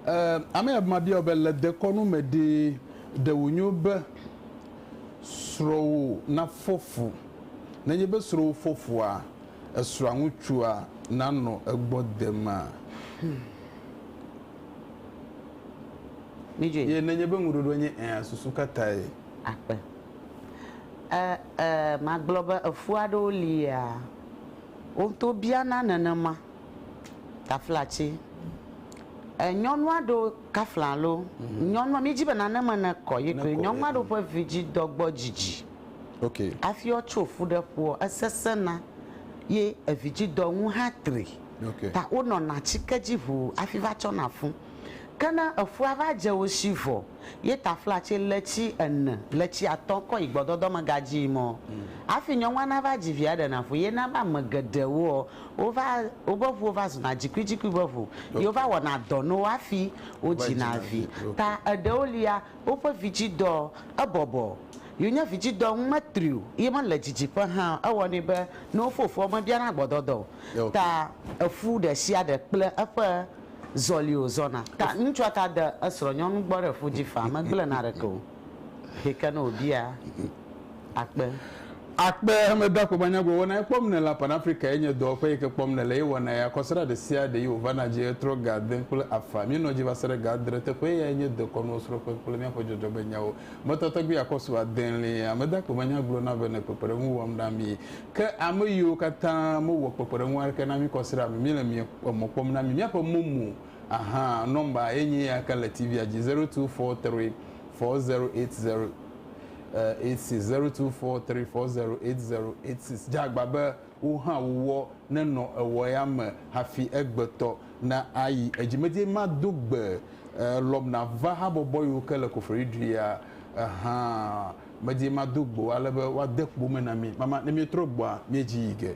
E, ame ya mabia wò be le dekɔnu me ɖee, ɖe wònyo be srɔ̃wò nafɔ fu Nenye be srɔ̃wò fofoa, esrɔ̃a ŋutsua, nanɔ egbɔ demee. Ye nenye be ŋuɖoɖoa nye ɛ̃a, susu ka tae? Akpe. E, e, magblɔ be efu aɖewo li ya wo ŋutɔ biana nenema. Taflatsi. E, nyɔnu aɖewo kafla alo nyɔnua, mídi be nane me nekɔ ye koe nyɔnu aɖewo ƒe vidzidɔ gbɔ dzidzi. Okay. Afi wotso fu ɖe ƒuɔ, esesẽna ye evidzidɔ ŋu hã tri. Okay. Ta wonɔna atsike dzi ʋuu afi va tsɔna fu. Ke ne efua va dze wo shi vɔ ye tafla tse le tsi ene le tsi atɔ kɔ yi gbɔdɔdɔ me gadzi yi mɔ. Afi nyɔnua na va dzi via ɖena fu ye na be ame geɖe wo ɔ, wo va, wobe ŋuwo va zuna dzikuidzikui be ŋu. Okay. Ye wova wɔna dɔ no wo afi wo dzina vi. Ta eɖewo lia, Woƒe vidzidɔ, ebɔbɔ. Yewonya vidzidɔ ŋu metri o ye mele didiƒe hã o. Ewɔnɛ be ne wofɔ fufua womebiana gbɔdɔdɔ o. Ta efu ɖe sia ɖe kple eƒe zɔli wòzɔna. Ta ŋutsua ta de esrɔ̃nyɔnu gbɔ ɖe fu dzi faa, megblẽ na ɖeke o, xexi ke ne wòbia. akpe. Akpe, Emedoakpegba nyagblɔ wɔna ye kpɔm nèle, Pan Africa ye nye dɔwɔƒe yi ke kpɔm nèle ye wɔna ye, akɔsrã ɖe sia ɖe yi wòvana dzi ɣetrɔ ga ade kple afã, míenɔ dzi va se ɖe ga adre, teƒe yae nye dekɔnuwo srɔ̃ƒe kple míaƒe dzɔdzɔme nyawo me tɔtɔgbi akɔsu adelie. Amedoakpegba nyagblɔ na be nè kpekpeɖeŋu wɔm na mí. Ke ame yiwo katã mewɔ kpekpeɖeŋu aɖeke na mí kɔsrã me míele mie emɔ kpɔm na mí. Míaƒe momo ahaa nɔmba ye nye eya ke le TV-a dzi, zero two four three four zero eight zero. 860243408086 dze agba be wo hã wowɔ nenɔ ewɔ ya me hafi egbe tɔ na ayi edzi medie ma do gbe elɔm na va habɔbɔ yiwo ke le koferi ɖui ya ehã medie ma do gbe wo ale be woa de kpo me na mi mama ne mie trɔ gbɔa mie dzi yi ge.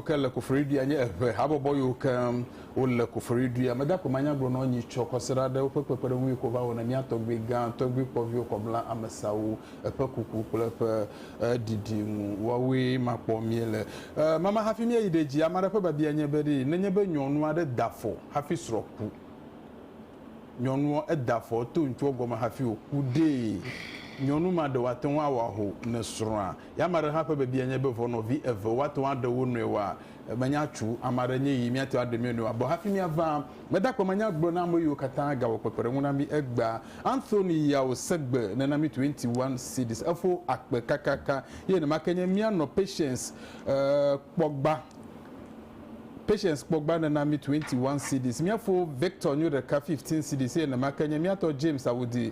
Wò ke le koforiɖuia nye eŋe habɔbɔ yiwo ke wo le koforiɖuia. Meda akpe manya gblɔ nɔ nyi tsɔ kɔsiɖa ɖe woƒe kpekpeɖeŋu yi ko va wɔ ne mía tɔgbui gã tɔgbui kpɔviwo kɔ bla amesawo eƒe kuku kple eƒe ɖiɖi ŋu. Woawoe ma kpɔ mie le mama hafi mía yi ɖe dzi. Ame aɖe ƒe babia nye be ɖee nenye be nyɔnu aɖe da afɔ hafi srɔ̃ ku. Nyɔnuɔ eda afɔ to ŋutsuɔ gɔme hafi wòku ɖee. Nyɔnu ma ɖe wòate ŋu awɔ aho ne srɔ̃a. Ya ame aɖe hã ƒe biabia nye be, Ʋɔnɔvi eve woate ŋu aɖe wo nɔewoa? Menya tso ame aɖe nye ɣi míate ŋu aɖe mía nɔewo abɔ hafi míava. Meda akpe manya gblɔ na ameyiwo katã gawɔ kpekpeɖeŋu na mí egbea. Anthony Yao Segbe, nena mí twenty one cedis. Efo akpe kakaka. Ye nenema ke nye mía nɔ Patience Kpɔgba. Patience Kpɔgba nena mí twenty one cedis. Mía fo Victor Nyoɖeka fifteen cedis eye nenema ke nye mía tɔ James Awudi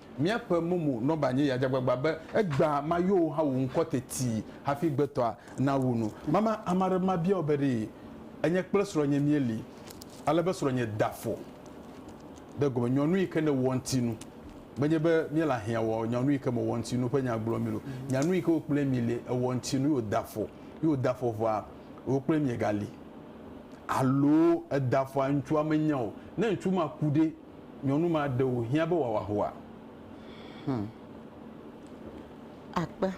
Míaƒe mumu nɔba nye yadzagbagba be egbea mayowo hã wu ŋkɔ teti hafi gbetɔa nawu nu. Mama ame aɖe mabia wò be ɖe enye kple srɔ̃nye míeli ale be srɔ̃nye da afɔ ɖe gome. Nyɔnu yi ke nèwɔ ŋuti nu. Menye be míele ahiã wɔ nyɔnu yi ke mewɔ ŋuti nu ƒe nya gblɔm mí o. Nyɔnu yi ke wò kple mi li ewɔ ŋuti nu ye wòda afɔ. Ye wòda afɔ vɔa, wò kple miegali. Alo eda afɔa ŋutsua menya o. Ne ŋutsu ma ku ɖe? Nyɔnu ma ɖe wò hiã be wòawɔ ahua? Hum. Akpe.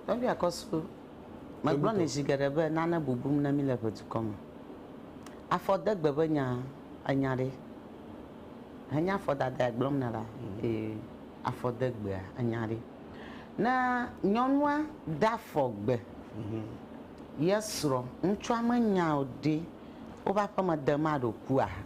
Tɔgbui Akɔsu, megblɔ nɛ zi geɖe be nane bubum ne míle ʋe dukɔ me. Afɔdegbe ƒe nya, ènya ɖe? Henye afɔdadae gblɔm nèle la, ee, afɔdegbea, ènya ɖe? Ne nyɔnua de afɔ gbe ye srɔ̃, ŋutsua menya o ɖe, woƒe aƒeme dem aɖo kua?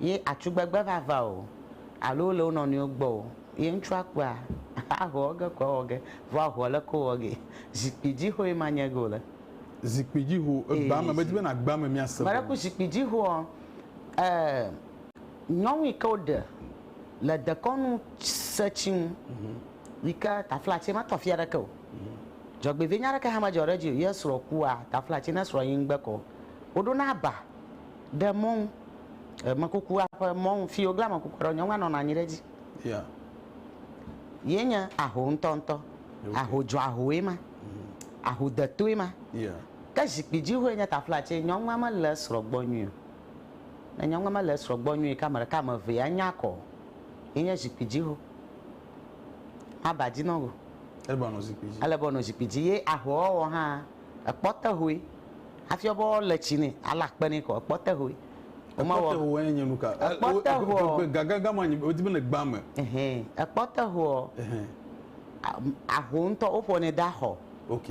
ye atugbegbe va va o alo wole wo nɔnɔewo gbɔ o ye ŋutsua kpɔa, ahɔ wɔ ge ko awɔ ge. Vɔ ahɔ leke wowɔ gee? Zikpuidzihoe ma nye ege wole. Zikpuidziho, egbea me, medi bena egbea me míase gɔme. Meɖe ku zikpuidzihoa, e nyɔnu yi ke woɖe le dekɔnu se tsi ŋu yi ke taflatse metɔ afi aɖeke o. Dzɔgbevie nya aɖeke hã medzɔ ɖe edzi o. Ye srɔ̃ kua, taflatse ne srɔ̃ yi ŋgbe kɔ o. Woɖo na aba Ɖe mɔnu, emekukua ƒe mɔnu fi woglã amekukua ɖo, nyɔnua nɔna anyi ɖe edzi. Yeah. Ye nye aho ŋutɔŋutɔ. Okay. Aho dzɔahoe ma. Mm. Aho detoe ma. Yeah. Ke zikpui dzihoe nye tafla tse nyɔnua mele esrɔ̃ gbɔ nyuie o. Ne nyɔnua mele esrɔ̃ gbɔ nyuie ke ame ɖeka ame evea nya akɔ o. Ye nye zikpui dziho. Maba dzi nɔgo. Ele be wòanɔ zikpui dzi. Ele be wòanɔ zikpui dzi ye ahoa wɔwɔ hã ekpɔtehoe. Hafi wobe woalé tsi nɛ, alé akpe nɛ kɔ, ekpɔ te hoe. Ekpɔ te hoe enye nu ka? Ekpɔ te hoɔ. Gagagã ma nyi wodi be le gbã me. Ɛhɛn, ekpɔ te hoɔ, aho ŋutɔ woƒonɛ de axɔ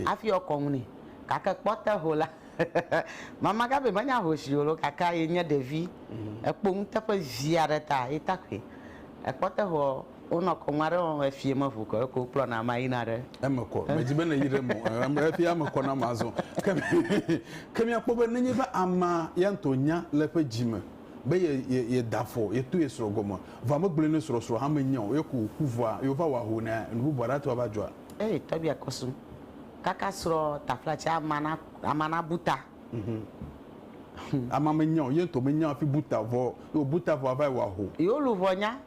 hafi woakɔ nu nɛ. Gake ekpɔ te ho la, mama Gabi menye ahoshi o loo gake ye nye ɖevi, ekpo nuteƒe vi aɖe ta ye ta koe. Ekpɔ te hoɔ. Wonɔ kɔŋu aɖe wɔm efi ye meʋu kɔ eko wokplɔ na ma yina ɖe. Eme kɔ. Medzi be nèyi ɖe eme o. Em em efi eme kɔ na ma azɔ. Ke ke míakpɔ be nenye be amea ya ŋutɔ nya le eƒe dzi me be ye ye yeda afɔ yeto ye srɔ̃ gɔme vɔa megblɔe ne srɔ̃ srɔ̃ hã menya o ye ko wòku vɔa ye wova wɔ ahoo nɛ enu bubu aɖe ate ŋu ava dzɔa? Ee tɔgbi akɔ sum. Kaka srɔ̃ taflatsia amea na amea nabu ta. Amea menya o, ye ŋutɔ menya hafi bu ta vɔ o. Ye wòbu ta vɔa va yi wɔ aho. Yewo luʋɔ nya.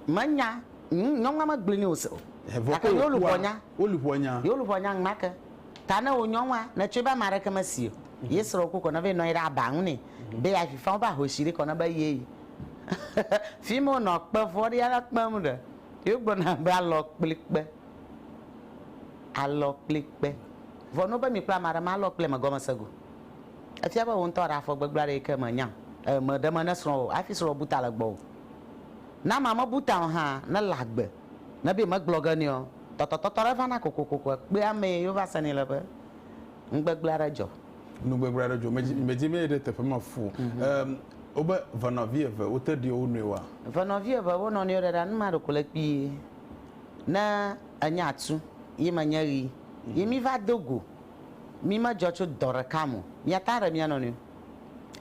Menya. Ŋ, nyɔnua megblɔe nɛ o se o. Vɔ Gake ke yewo luʋɔ wòkua, nya. wo luʋɔ nya. Yewo luʋɔ nya ŋmake. Ta ne wò nyɔnua, nètsɔe be ame aɖeke mesi o, ye srɔ̃wò ku kɔ na be nɔ anyi ɖe aba ŋu nɛ be yeavi faa woƒe ahosi ɖi kɔ na be yee. Fimi wonɔ kpe vɔ̃ɖia la kpem ɖe, yewogblɔna be alɔ kpli kpe. Alɔ kpli kpe. Vɔ no be mi kple amaɖe ma lɔ kple me gɔmese go. Efia be wò ŋutɔ ɖe afɔ gbegblẽ aɖe yike me nya e me ɖe me ne srɔ̃ wò hafi srɔ̃ bu ta le gbɔwò. Ne amea me bu ta o hã, ne le agbe, ne be me gblɔ ge nɛ ɔ, tɔtɔtɔtɔ ɖe va na kokokoko ekpe ame yi wova se nɛ le be nu gbegblẽ aɖe dzɔ. Nu gbegblẽ aɖe dzɔ. Medzi medzi me yi ɖe teƒe ma fu o. E wo be ve nɔvi eve wo te ɖi wo nɔewoa? Ve nɔvi eve wo nɔnɔewo ɖe ɖa nu ma ɖeko le kpuie. Ne. Enye atu, ye menye ɣi, ye mi va do go. Mi me dzɔ tso dɔ ɖeka me o. Mia ta ɖe mia nɔnɔewo.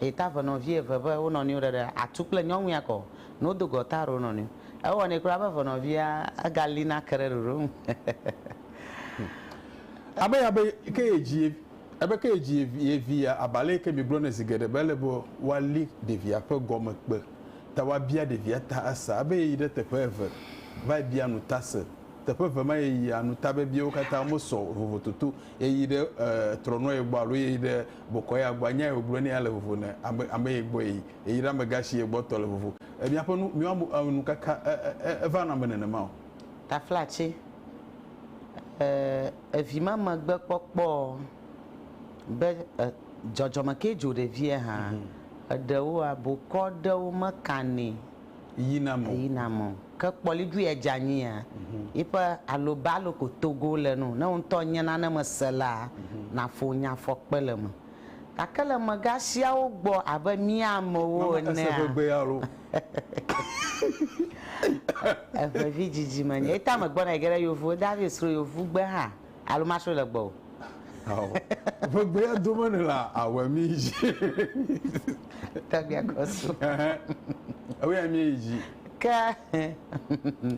Eye ta ve nɔvi eve be wo nɔnɔewo ɖeɖe, atu kple nyɔnui ake o, ne wo do go ta ɖe wo nɔnɔewo. Ewɔ nɛ kura be ve nɔvia ega li na ke ɖe ɖoɖo ŋu. Ame ya be ke ye dzi ye, ebe ke ye dzi ye vi, ye vi ya, abale yi ke mi gblɔ nɛ zi geɖe be ele be wa li ɖevia ƒe gɔme kpe. ta woabia ɖevia ta asa ebe yeyi ɖe teƒe eve vae bia nu ta se. Teƒe eve ma yeyia nu ta bebiewo katã mesɔ o vovototo yeyi ɖe trɔnɔye gbɔ alo yeyi ɖe bokɔya gbɔ. Anya ye wogblɔe ne ya le vovo ne ame ame ye gbɔ yeyi. Yeyi ɖe amegã si ye gbɔ tɔ le vovo. Miaƒe nu miwo ame ame nukaka eva nɔ ame nenema o. Taflatse, E, evi ma megbe kpɔkpɔ o be e. Dzɔdzɔme ke dzo ɖevia hã. Eɖewoa, bokɔ ɖewo mekanɛ yina mɔ. Ke kpɔli ɖui edze anyia, yiƒe alobalo ko togo le nu. Ne wò ŋutɔ nye nane me sela, naƒo nya fɔkpe le eme. Gake le mega siawo gbɔ abe mía amewo enea, eŋevi dzidzime nye. Ye ta megbɔna yi ge ɖe yovu, David sro yovugbe hã. Alo masrɔe le gbɔwò. Ao, ƒe gbea dome ne la awɔe mi dzi. Tɔgbia kɔsu. Ɛhɛ, ewoea mi yi dzi. Ke.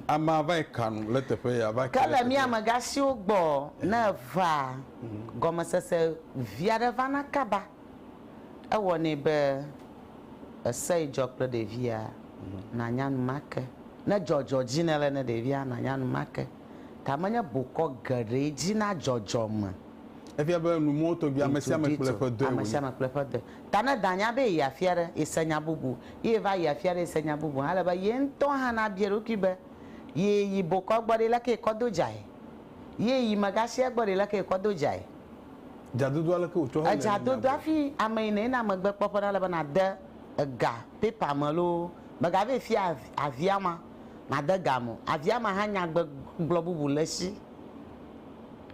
Amea va yi ka nu le teƒe ya va. Ke le mi amegã siwo gbɔ ne evaa, gɔmesese vi aɖe vana kaba. Ewɔnɛ be ese yi dzɔ kple ɖevia, nanya nu make. Ne dzɔ dzɔ dzi ne le ne ɖevia, nanya nu make. Ga menye bokɔ geɖee dzi na dzɔdzɔme. Efia be nu mɔwo tɔgbi ame sia ame kple eƒe dɔe wònye. Ta ne danya be yeyi afi aɖe, yese nya bubu, ye yeva yi afi aɖe yese nya bubu hã, ele be ye ŋutɔ hã nabia eɖokui be, Ye yi bokɔ gbɔ ɖe, leke yekɔ do dzae? Ye yi megasia gbɔ ɖe, leke yekɔ do dzae? Dzadodoa, leke wòtsɔ hele nɛ nyagbɔ? Dzadodoa, hafi ame yi nèyina megbekpɔƒe na, ele be nàde ega pepa me loo. Mègavɛ fia avia ma. made ga mo. Avia ma hã nya gbegblɔ bubu le esi.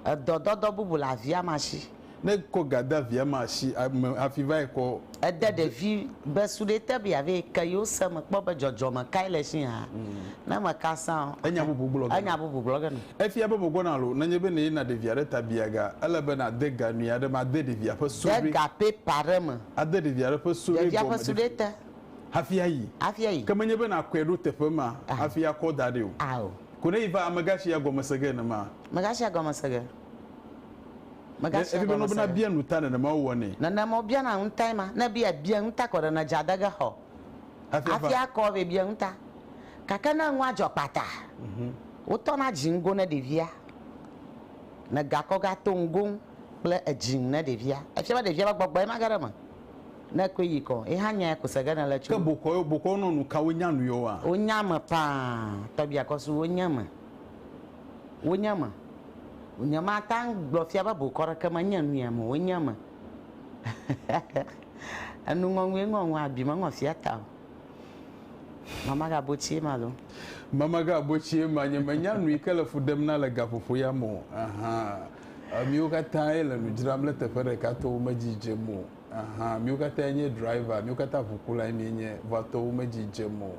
Edɔ dɔdɔ bubu le avia ma si. Ne kɔ ga de avia ma si me hafi vae kɔ. Ede ɖevi be suɖe te be yeave ke yewo se me kpɔ be dzɔdzɔme kae le esi hã. Ne meka sã o. Enya bubu gblɔ ge. Enya bubu gblɔ ge nɛ. Efia be mègbɔna alo nenye be nèyina ɖevia ɖe ta bia ga. Ele be nàde ga nyui aɖe me ade ɖevia ƒe suɖe. De ga pepa aɖe me. Ade ɖevia ɖe ƒe suɖe gɔme. Ɖevia ƒe suɖe te. hafi ayi. Hafi ayi. Ke menye be nàkɔe ɖo teƒe ma hafi akɔ da ɖi o. Ao. Ko ne yi va, megatsia gɔme se ge nenema. Megatsia gɔme se ge. Megatsia gɔme se ge. Ɖe ebianɔ be nabia nu ta nenema wowɔnɛ? Nenema wobiana nu tae ma. Ne ebia, bia nu ta kɔ ɖe ne dze ade ge xɔ. Hafi akɔ vɛ bia nu ta. Gake ne nua dzɔ kpata, wotɔna dzi ŋgo ne ɖevia. Negakɔ gato ŋgo ŋu kple edzi ŋu ne ɖevia. Efia be ɖevia ƒe gbɔgbɔe mage ɖe eme. Ne koe yi kɔ, yi hã nyae ko se ge ne le tso. Ke bokɔ yo, bokɔ nɔ nu ka wo nya nu yo wa. Wo nya me paa, tɔbi akɔ su wo nya me. Wo nya me. Nye ma ta ŋ gblɔ fia be bokɔ ɖe ke me nya nu ya me wo nya me. Enu ŋɔ ŋue ŋɔ ŋɔ abi me ŋɔ fia ta o. Mama ga bo tsie ma lo. Mama ga bo tsie ma nye me nya nu yi ke le fu ɖem na le gaƒoƒo ya me o. Ahan. Emiwo katã ye le nu dzram le teƒe ɖeka to wo me dzi dze mo. Ahan, míwo katã nye driver, míwo katã ʋukulae míenye, vɔa tɔwo medzi dzem o.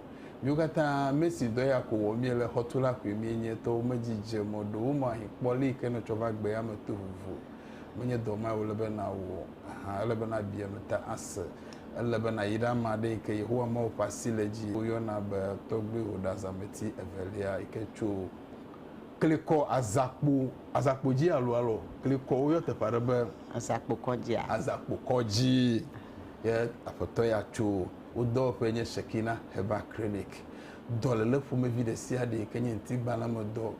Míwo katã mesi dɔ ya ko wɔm míele, xɔtula koe míenye, tɔwo medzi dzem o. Ɖewo mɔ ahin kpɔ le yi ke nètsɔ va gbe ya me to vovo. Menye dɔ mae wòle be nàwɔ o. Ahan, ele be nàbia nu ta ase. Ele be nàyi ɖe ame aɖe yi ke Yehowa Mawu ƒe asi le edzi, woyɔna be tɔgbuiwò ɖazãmeti evelia yi ke tso klikɔ, azakpo, azakpo dzi alo alɔ klikɔ. Woyɔ teƒe aɖe be. Aza kpo kɔdzia? Aza kpo kɔdzi. Ye Aƒetɔ ya tso wo dɔwɔƒee nye Shekina Herbal Clinic. Dɔléle ƒomevi ɖesiaɖe yi ke nye ŋutigbalẽmedɔ,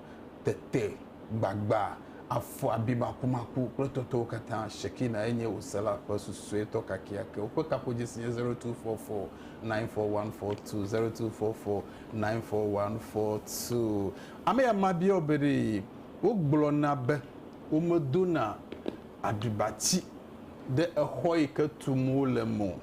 tete, gbagba, afɔ abi makumaku kple tɔtɔwo katã, Shekina ye nye wò sela ƒe susuetɔ kakeake. Woƒe kaƒodzesi nye zero two four four nine four one four two, zero two four four nine four one four two. Ame ya ma bia wo be ɖee wogblɔ na be Womedona aɖibati ɖe exɔ yi ke tum wole me o,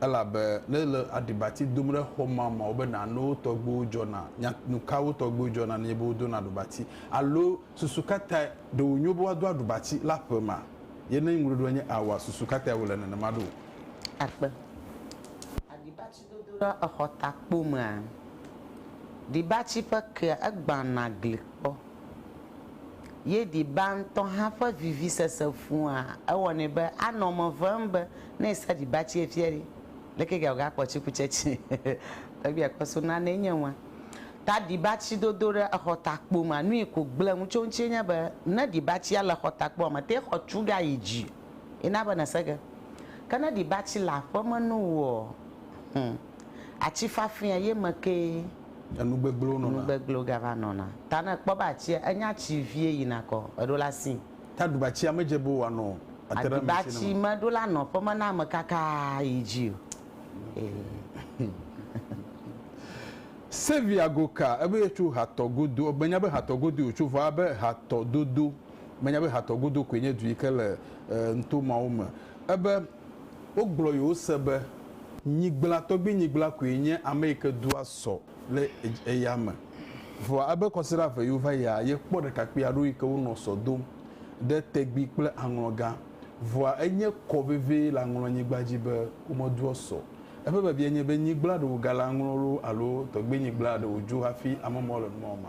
elabe ne èle aɖibati dom ɖe xɔ ma me wobe nanewo tɔgbiwo dzɔna. Nya nu kawo tɔgbiwo dzɔna nenye be wodona aɖibati? Alo susu ka tae ɖe wònyo be woado aɖibati le aƒe ma? Ye ne eŋuɖoɖoa nye aoa, susu ka tae wòle nenema ɖo? Akpe. Gbedodoɖa exɔtakpo mea, ɖibatsi ƒe kea egbãna gli kpɔ, ye ɖiba ŋutɔ hã ƒe vivisese ƒua ewɔnɛ be anɔ eme vem be ne èsa ɖibatsi efia ɖi, leke kea wògakpɔ tsikutsetsi egbea akpɔ so nanee nye nua. Ta ɖibatsi dodo ɖe exɔtakpo mea, nui ko gblẽ ŋu tso eŋutie nye be ne ɖibatsia le exɔtakpoa me tea xɔ tu ɖa yi dzi. ye na be nèse ge. Ke ne ɖi be atsi le aƒe me no wò ɔ, hum, atsi fafɛa ye me kee. Enu gbegblẽwo nɔna. Enu gbegblẽwo gava nɔna. Ta ne èkpɔ be atsia, enye atsi vie yina kɔ, èɖo la sii. Ta ɖi be atsia medze be wòanɔ ate ɖe ame sia ame. Ɖi be atsi meɖo la nɔƒe me na ame kakaa yi dzi o. Sylvia Goka, ebe yetso hatɔ godo. Menya be hatɔ godoe wòtso vɔ abe hatɔ dodo. Menya be Hatɔ godo koe nye du yi ke le nuto mawo me. Ebe, Wogblɔ yewo se be, Nyigblã, tɔgbui nyigblã koe nye ame yi ke dua sɔ le eya me. Vɔa ebe kɔsiɖa eve yi wova yia, yekpɔ ɖekakpui aɖewo yi ke wonɔ sɔ dom ɖe tegbi kple aŋlɔ gã. Vɔa enye kɔ vevie le aŋlɔ nyigba dzi be womedoa sɔ. Eƒe biabia nye be, Nyigblã ɖe wògale aŋlɔ loo alo tɔgbui nyigblã ɖe wòdzo hafi ame mawo le nu mawo ma?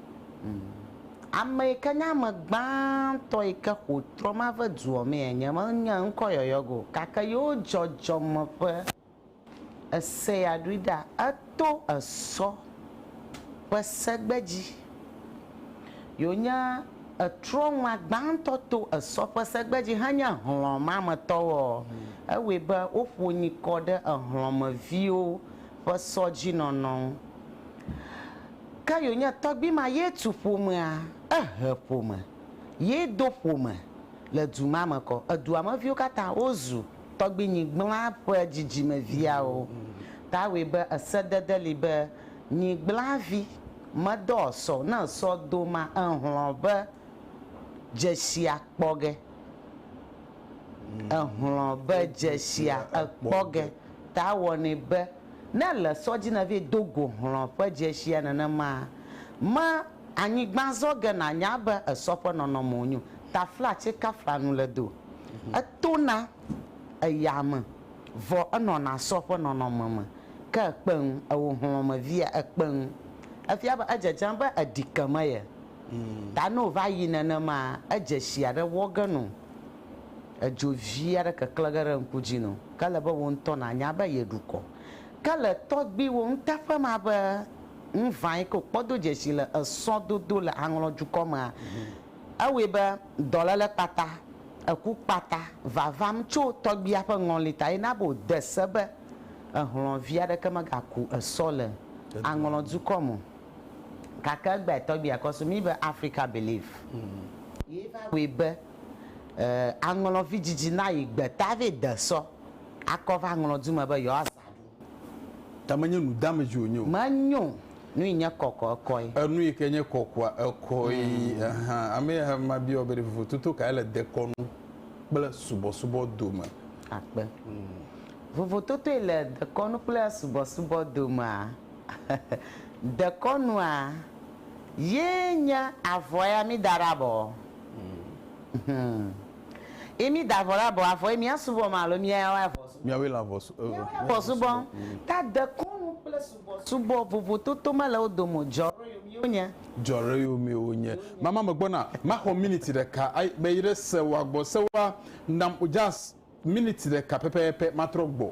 Ame yi ke nye ame gbãtɔ yi ke xo trɔ ma ƒe dua mee enye. Menye eŋkɔ yɔyɔ ge o, gake yewo dzɔdzɔme ƒe ese ya ɖoe ɖa. Eto esɔ ƒe segbe dzi. Yewo nye etrɔ ŋua gbãtɔ to esɔ ƒe segbe dzi henye hlɔ̃ ma me tɔwo. Ewɔe be woƒo nyikɔ ɖe ehlɔ̃ me viwo ƒe sɔ dzi nɔnɔ ŋu. Kayo nye tɔgbui ma ye tu ƒomea, ehe ƒome, ye do ƒome le du ma me kɔ. Edua me viwo katã wozu tɔgbuinyigblã ƒe dzidzimeviawo. Ta wɔe be esedede li be nyigblãvi medɔ sɔ ne sɔ do ma ehlɔ̃ be dzesia kpɔ ge. Ehlɔ̃ be dzesia ekpɔ ge ta wɔnɛ be Ne èle sɔ dzi nèvɛ do go hlɔ̃ ƒe dzeshia nenemaa, me anyigba zɔ ge nànya be esɔ ƒe nɔnɔmewo nyo. Tafla tsɛ kafla nu le do. Etona eyame, vɔ enɔna sɔ ƒe nɔnɔme me. Ke ekpeŋ, ewò hlɔ̃ me via, ekpeŋ. Efia be edzedzem be èɖi ke me ye ta ne wòva yi nenemaa, edzeshia ɖe wɔ ge nɔ wò. Edzo vi aɖe keklẽ ge ɖe ŋku dzi nɔ. Ke ele be wò ŋutɔ nànya be yeɖu kɔ. Ke le tɔgbuiwò nuteƒe ma be nu ʋã yi ke wòkpɔ do dzesi le esɔ dodo le Aŋlɔ dukɔ mea, ewɔe be dɔléle kpata, eku kpata va vam tso tɔgbuia ƒe ŋɔli ta ye na be wòde se be ehlɔ̃ vi aɖeke megaku esɔ le Aŋlɔ dukɔ me o. Gake egbeae tɔgbuia kɔ so mí be Africa Believe ye va wɔe be E, aŋlɔ vi dzidzi na yi gbeta vɛ de sɔ akɔ va ŋlɔ du me be yewoa zã ɖu. Ta me nye nu dame dzi wonye o. Me nyo nu yi nye kɔkɔ ekɔe. E nu yi ke nye kɔkɔa ekɔe. Mm. Aha, ame ya he ma biɔ be ɖe vovo toto kae le dekɔnu kple subɔsubɔ dome. Akpe. Mm. Vovo totoe le dekɔnu kple subɔsubɔ domea? dekɔnua ye nye avɔa ya mi da ɖe abɔ. Yi mi da vɔ la bɔ avɔ yi mia subɔ ma alo mia ya wɔ avɔ subɔ. Mia we la vɔ subɔ. Mia we la vɔ subɔ. Ta dekɔnu kple subɔ subɔ vovo toto me le wo dome o. Jɔ ɖo yo miwo nye. Jɔ ɖo yo miwo nye. Mama me gbɔna. Ma xɔ miniti ɖeka. Ai be yi ɖe se wa gbɔ se wa nam o jas miniti ɖeka pɛpɛpɛ ma trɔ gbɔ.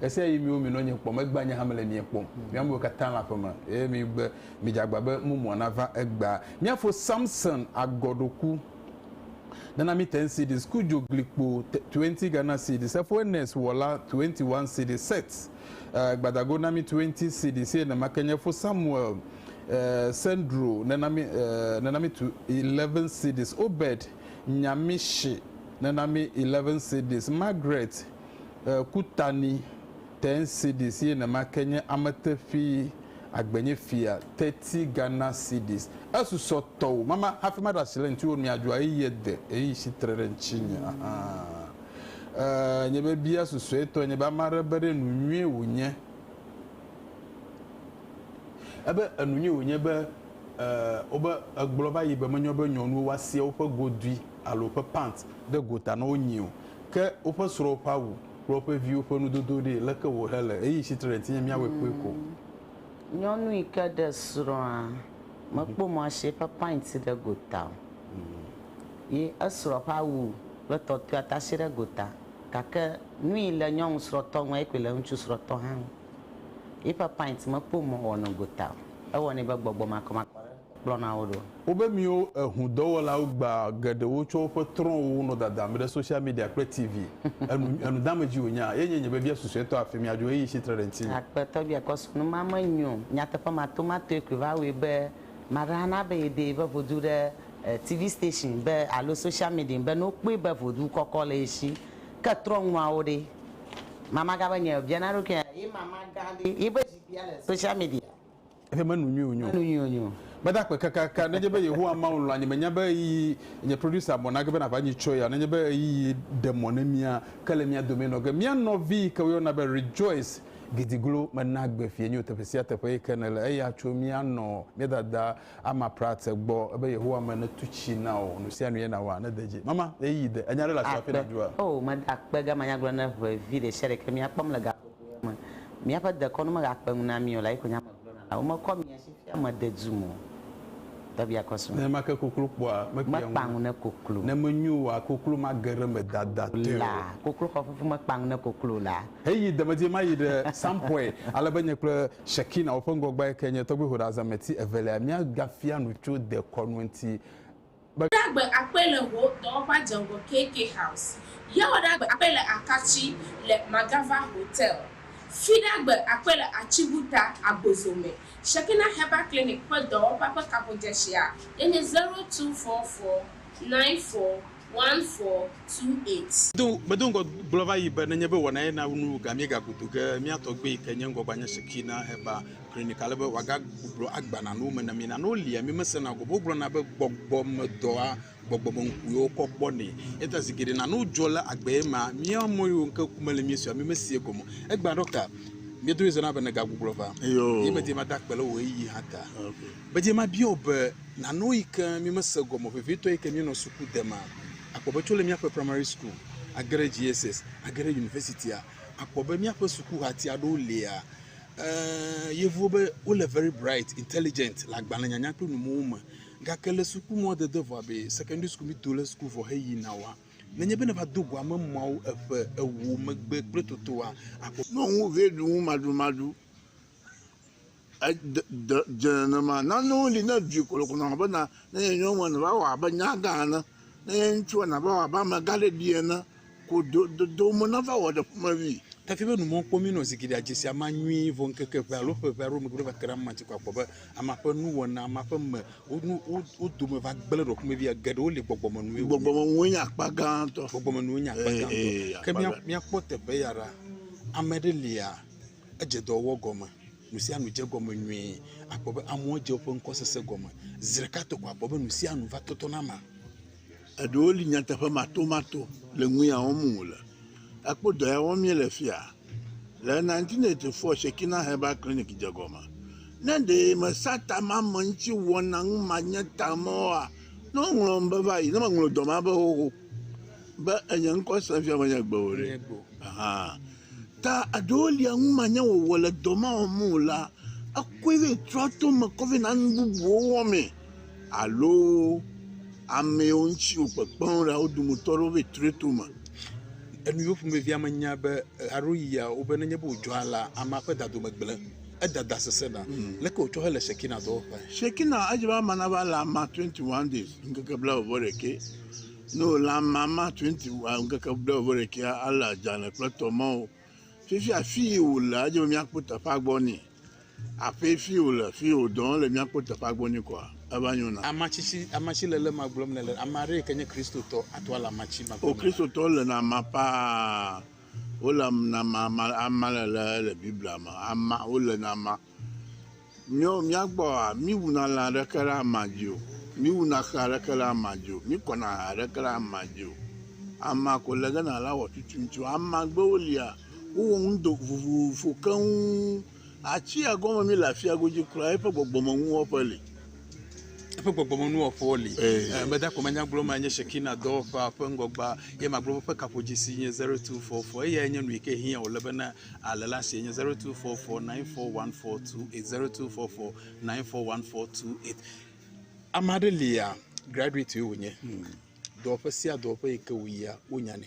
Ɣesiaɣi miwo minɔ nye kpɔm egbea nye hã mele mia kpɔm. Mi amewo katã le aƒe me, eye migbe, midze agba be mumua nava egbea. Mía fo Samson agɔ ɖo ku. Nana mi ten cedis ku dzo gli kpo twenty Ghana cedis efo Ernest wɔ la twenty one cedis set eh, gbadago na mi twenty cedis eye nema ke nye fo Samuel eh, Sendro nena mi eh, nena mi tu eleven cedis Obed Nyamishi nena mi eleven cedis Margaret Kutani Ten Cedis ye nema ke nye amete ƒi agbenye fia Thirty Ghana Cedis Esusɔ tɔwo mama hafi maɖe asi le ŋutiwo nui adzɔa eyi ye de eyi si tre ɖe ŋutinye ahan Nye be bia susɔe tɔe nye be ame aɖe be ɖe enu nyuie wònye ebe enu nyuie wònye be wobe egblɔ va yi be menyo be nyɔnuwo woasia woƒe godui alo woƒe pant ɖe gota na wo nyio Ke woƒe srɔ̃wo ƒe awu kple woƒe viwo ƒe nudodo ɖe, leke wòhe le? Eyi tsitre ɖe tinye míawɔe kpɔe ko. Nyɔnu yi ke ɖe srɔ̃a, mekpɔ mɔ asi eƒe pint ɖe gota o. Ye esrɔ̃ ƒe awu kple tɔtɔea ta asi ɖe gota. Gake nuyi le nyɔnu srɔ̃tɔ ŋu, eyi koe le ŋutsu srɔ̃tɔ hã ŋu. Yiƒe pint mekpɔ mɔ wòwɔ nɔ gota o. Ewɔ nɛ be gbɔgbɔ makɔmakɔ aɖe. kplɔna wo ɖo. Wobe míwo ehudɔwɔlawo gbea geɖewo tsɔ woƒe trɔ̃wo nɔ dadam ɖe social media kple TV, enu enudeamedziwo wònya, eye nye biabia susuetɔ afi mía dzo ɣeyiɣi si tre ɖe ŋutinye. Aƒetɔ bia kɔ srɔ̃ nu ma me nyo. Nyateƒe matomatoe koe va wɔe be maɖe ana be yede yiƒe voduu ɖe TV station be alo social media be ne wokpɔe be vodu kɔkɔ le ye si. Ke trɔ̃nuawo ɖe? Mamagã be nye biana eɖokui nye be, Ye mamagã ɖe yiƒe zikpuia le social media? Eƒe menu nyui wònyo. Menu nyui wònyo. Meda akpe kakaka. Nenye be Yehowa Mawu lɔ̃a nye, menya be ɣeyiɣi, nye producer bɔ nage be nàʋã nyui tsɔe ya o, nenye be ɣeyiɣi ɖe mɔ ne mía, ke le mía domee nɔ ge. Mía nɔvi yi ke woyɔna be Rejoice Gidiglo mena agbe fiẽ nyo teƒe sia teƒe yi ke nèle. Eya tso mía nɔ mía dada Ama Pratt gbɔ. Ebe Yehowa me netu tsi na wò. Nu sia nu ye nàwɔa. Nede dzi. Mama, ɣeyiɣi de. Ènya ɖe le afi ma hafi nàɖua? Akpe. Oo, meda akpe gamanyagblɔ ne ʋe vi ɖe sia ɖe ke mía kpɔm le gaxɔ. me. Míaƒe dekɔnu megakpe ŋu na mí o la yi ko nya me gblɔna la, Womekɔ mia si fia mede dum o. Tɔbia kɔ srɔ̃. Nenema ke koklo kpɔa mekpea ŋu ne koklo. Ne menyo oa, koklo mage ɖe eme dadatɛ o. La, koklo xɔ fufu mekpea ŋu ne koklo la. Heyi demedie ma yi ɖe sampɔe, ale be nye kple Shekina, woƒe ŋgɔgbea yi ke nye tɔgbuihoɖazameti evelia, míagafia nu tso dekɔnu ŋuti. be. Ɖagbe akpɔe le wò dɔwɔƒea dze ŋgɔ KK House. Yawo ɖagbe akpɔe le Akatsi le Magava Hotel. Fi ɖagbe akpɔe le Atsibuta, Agbozo me. Shekinah Herbal Clinic ƒe dɔwɔƒea ƒe kaƒodzɛsia ye nye zero two four four nine four one four two eight. Do, medo ŋgɔ gblɔ va yi be, nenye be wɔnae na nuwò ga míegaku do ge, mía tɔgbui yi ke nye ŋgɔgbea nye Shekinah Herbal. Klinika ale be wòagagblɔ agba na wo me na mi na ne wolia mi mesena gɔme o. Wogblɔna be gbɔgbɔmedɔa gbɔgbɔmeŋkuwo kɔ kpɔnɛ. Eya ta zi geɖe nane wodzɔ le agbee ma mía ame yiwo ŋke ku mele mía si o mímeseɛ gɔme o. Egbea ɖɔkta mía dome zɔna be nègagbuglɔ va. Eyoo. Ye medie mada akpe le wò ɣeyiɣi hã ta. Okay. Medie mabia wò be nanewo yi ke mímese gɔme o vevitɔ yi ke míenɔ suku de ma. Àkpɔ be tso le míaƒe primary school age ɖe JSS age ɖe universitya, àkpɔ be míaƒe sukuhatia ɖewo lia, Ɛɛ, Yevuwo be wole very bright, intelligent le agbalẽnyanya kple numowo me. Gake le suku mɔ dede vɔ abe secondary school mido le suku vɔ heyina oa, nenye be nèva do goa me mɔawo eƒe ewo megbe kple totoa, akpɔ. Nɔ ŋu vɛ ɖu ŋu maɖumaɖu. E, de, de, dze nenema. Nanewo li ne ɖui ko lɔƒo nɔ bena, ne nye nyɔnua nèva wɔ abe nyagã ene, ne nye ŋutsua nèva wɔ abe amegãɖeɖi ene. Ko do, do, do me nava wɔ ɖe ƒumevi. Tafi be numɔ kpɔ mí nɔ zigiɖea dze sia ma nyui vɔ ŋkeke ʋɛ alo ƒe ʋɛ aɖewo megbe va te ɖe ama dzi ko akpɔ be ama ƒe nuwɔna, ama ƒe me, wo, nu, wo, wo dome va gblẽ ɖe ƒumevia. Geɖewo li gbɔgbɔme nue wonye. Gbɔgbɔme nue nye akpa gãtɔ. Gbɔgbɔme nue nye akpa gãtɔ. Ee, ee, Ke mía, mía kpɔ teƒe ya ɖa. Ame ɖe lia, edze dɔ wɔwɔ gɔme. Nu sia nu dze egɔme nyui. Akpɔ be amewo dze woƒe ŋkɔsese gɔme. Ziɖeka to ko akpɔ be nu sia nu va tɔtɔ na ama. Eɖewo li nyateƒe matomato le nu ya wɔm wòle. Ekpɔ dɔ ya wɔm míele fia le 1984 Shekinah Herbal Clinic dze gɔme. Ne ɖe mesa tamamɛŋutiwɔna ŋu manye tame oa, ne woŋlɔm be va yi, ne meŋlɔ dɔ ma be xoxo be enye ŋkɔ sem fia menye gbe o ɖe, ahan. Ta aɖewo lia numanyawɔwɔ le dɔ ma wɔm me o la, ekɔe vɛ trɔa to me kɔ vɛ na nu bubuwo wɔmee. Alo amewo ŋuti wòkpekpeŋ ɖa wo dometɔ aɖewo vɛ trɔe to me. Enuyo ƒomevia me nya be aɖo yia wo be nenye be wòdzɔa la, amea ƒe dadome gblẽ, edada sesẽna. Leke wòtsɔ hele Shekinah dɔwɔƒea? Shekinah edze be ame nava le amea 21 days, ŋkeke blaeve-vɔ-ɖekɛ. No la mama twenty wa ŋkeke ɖe o vere kia ale adzane kple tɔ ma o. Fifi afi yi wò le adze mia kpo teƒe agbɔ ni. Aƒe fi wò le fi wò dɔn le mia kpo teƒe agbɔ ni kɔa eva nyo na. Amatsi si amatsi le le ma gblɔm ne le ama ɖe ke nye Kristo tɔ ato ala amatsi ma gblɔm. O Kristo tɔ le na ma paa. Wole na ma ama le le le Biblia ma ama wole na ma. Míɔ, mía gbɔa, mí wuna lã ɖeke ɖe ama dzi o. Mí wuna xe aɖeke ɖe ama dzi o. Mí kɔna aha aɖeke ɖe ama dzi o. Ama ko le ge na la wɔ tutuin tso. Amagbewo lia, wo wɔ ŋudo vovovo keŋ. Atsia gɔme mí le afia godzi kura. Eƒe gbɔgbɔme nuwɔƒe li. Eƒe gbɔgbɔme nuwɔƒewo li. Eh. Meda eh, ko manya gblɔ ma nye Shekina dɔwɔƒea ƒe ŋgɔgba. Ye magblɔ woƒe kaƒodzesi nye 0244. Eyae nye nu yi ke hiã wòle bena. Ale la sie nye 0244941428 0244941428. Ame aɖe lia graduate wònye. Dɔwɔƒe sia dɔwɔƒe yi ke wòyia wonyanɛ.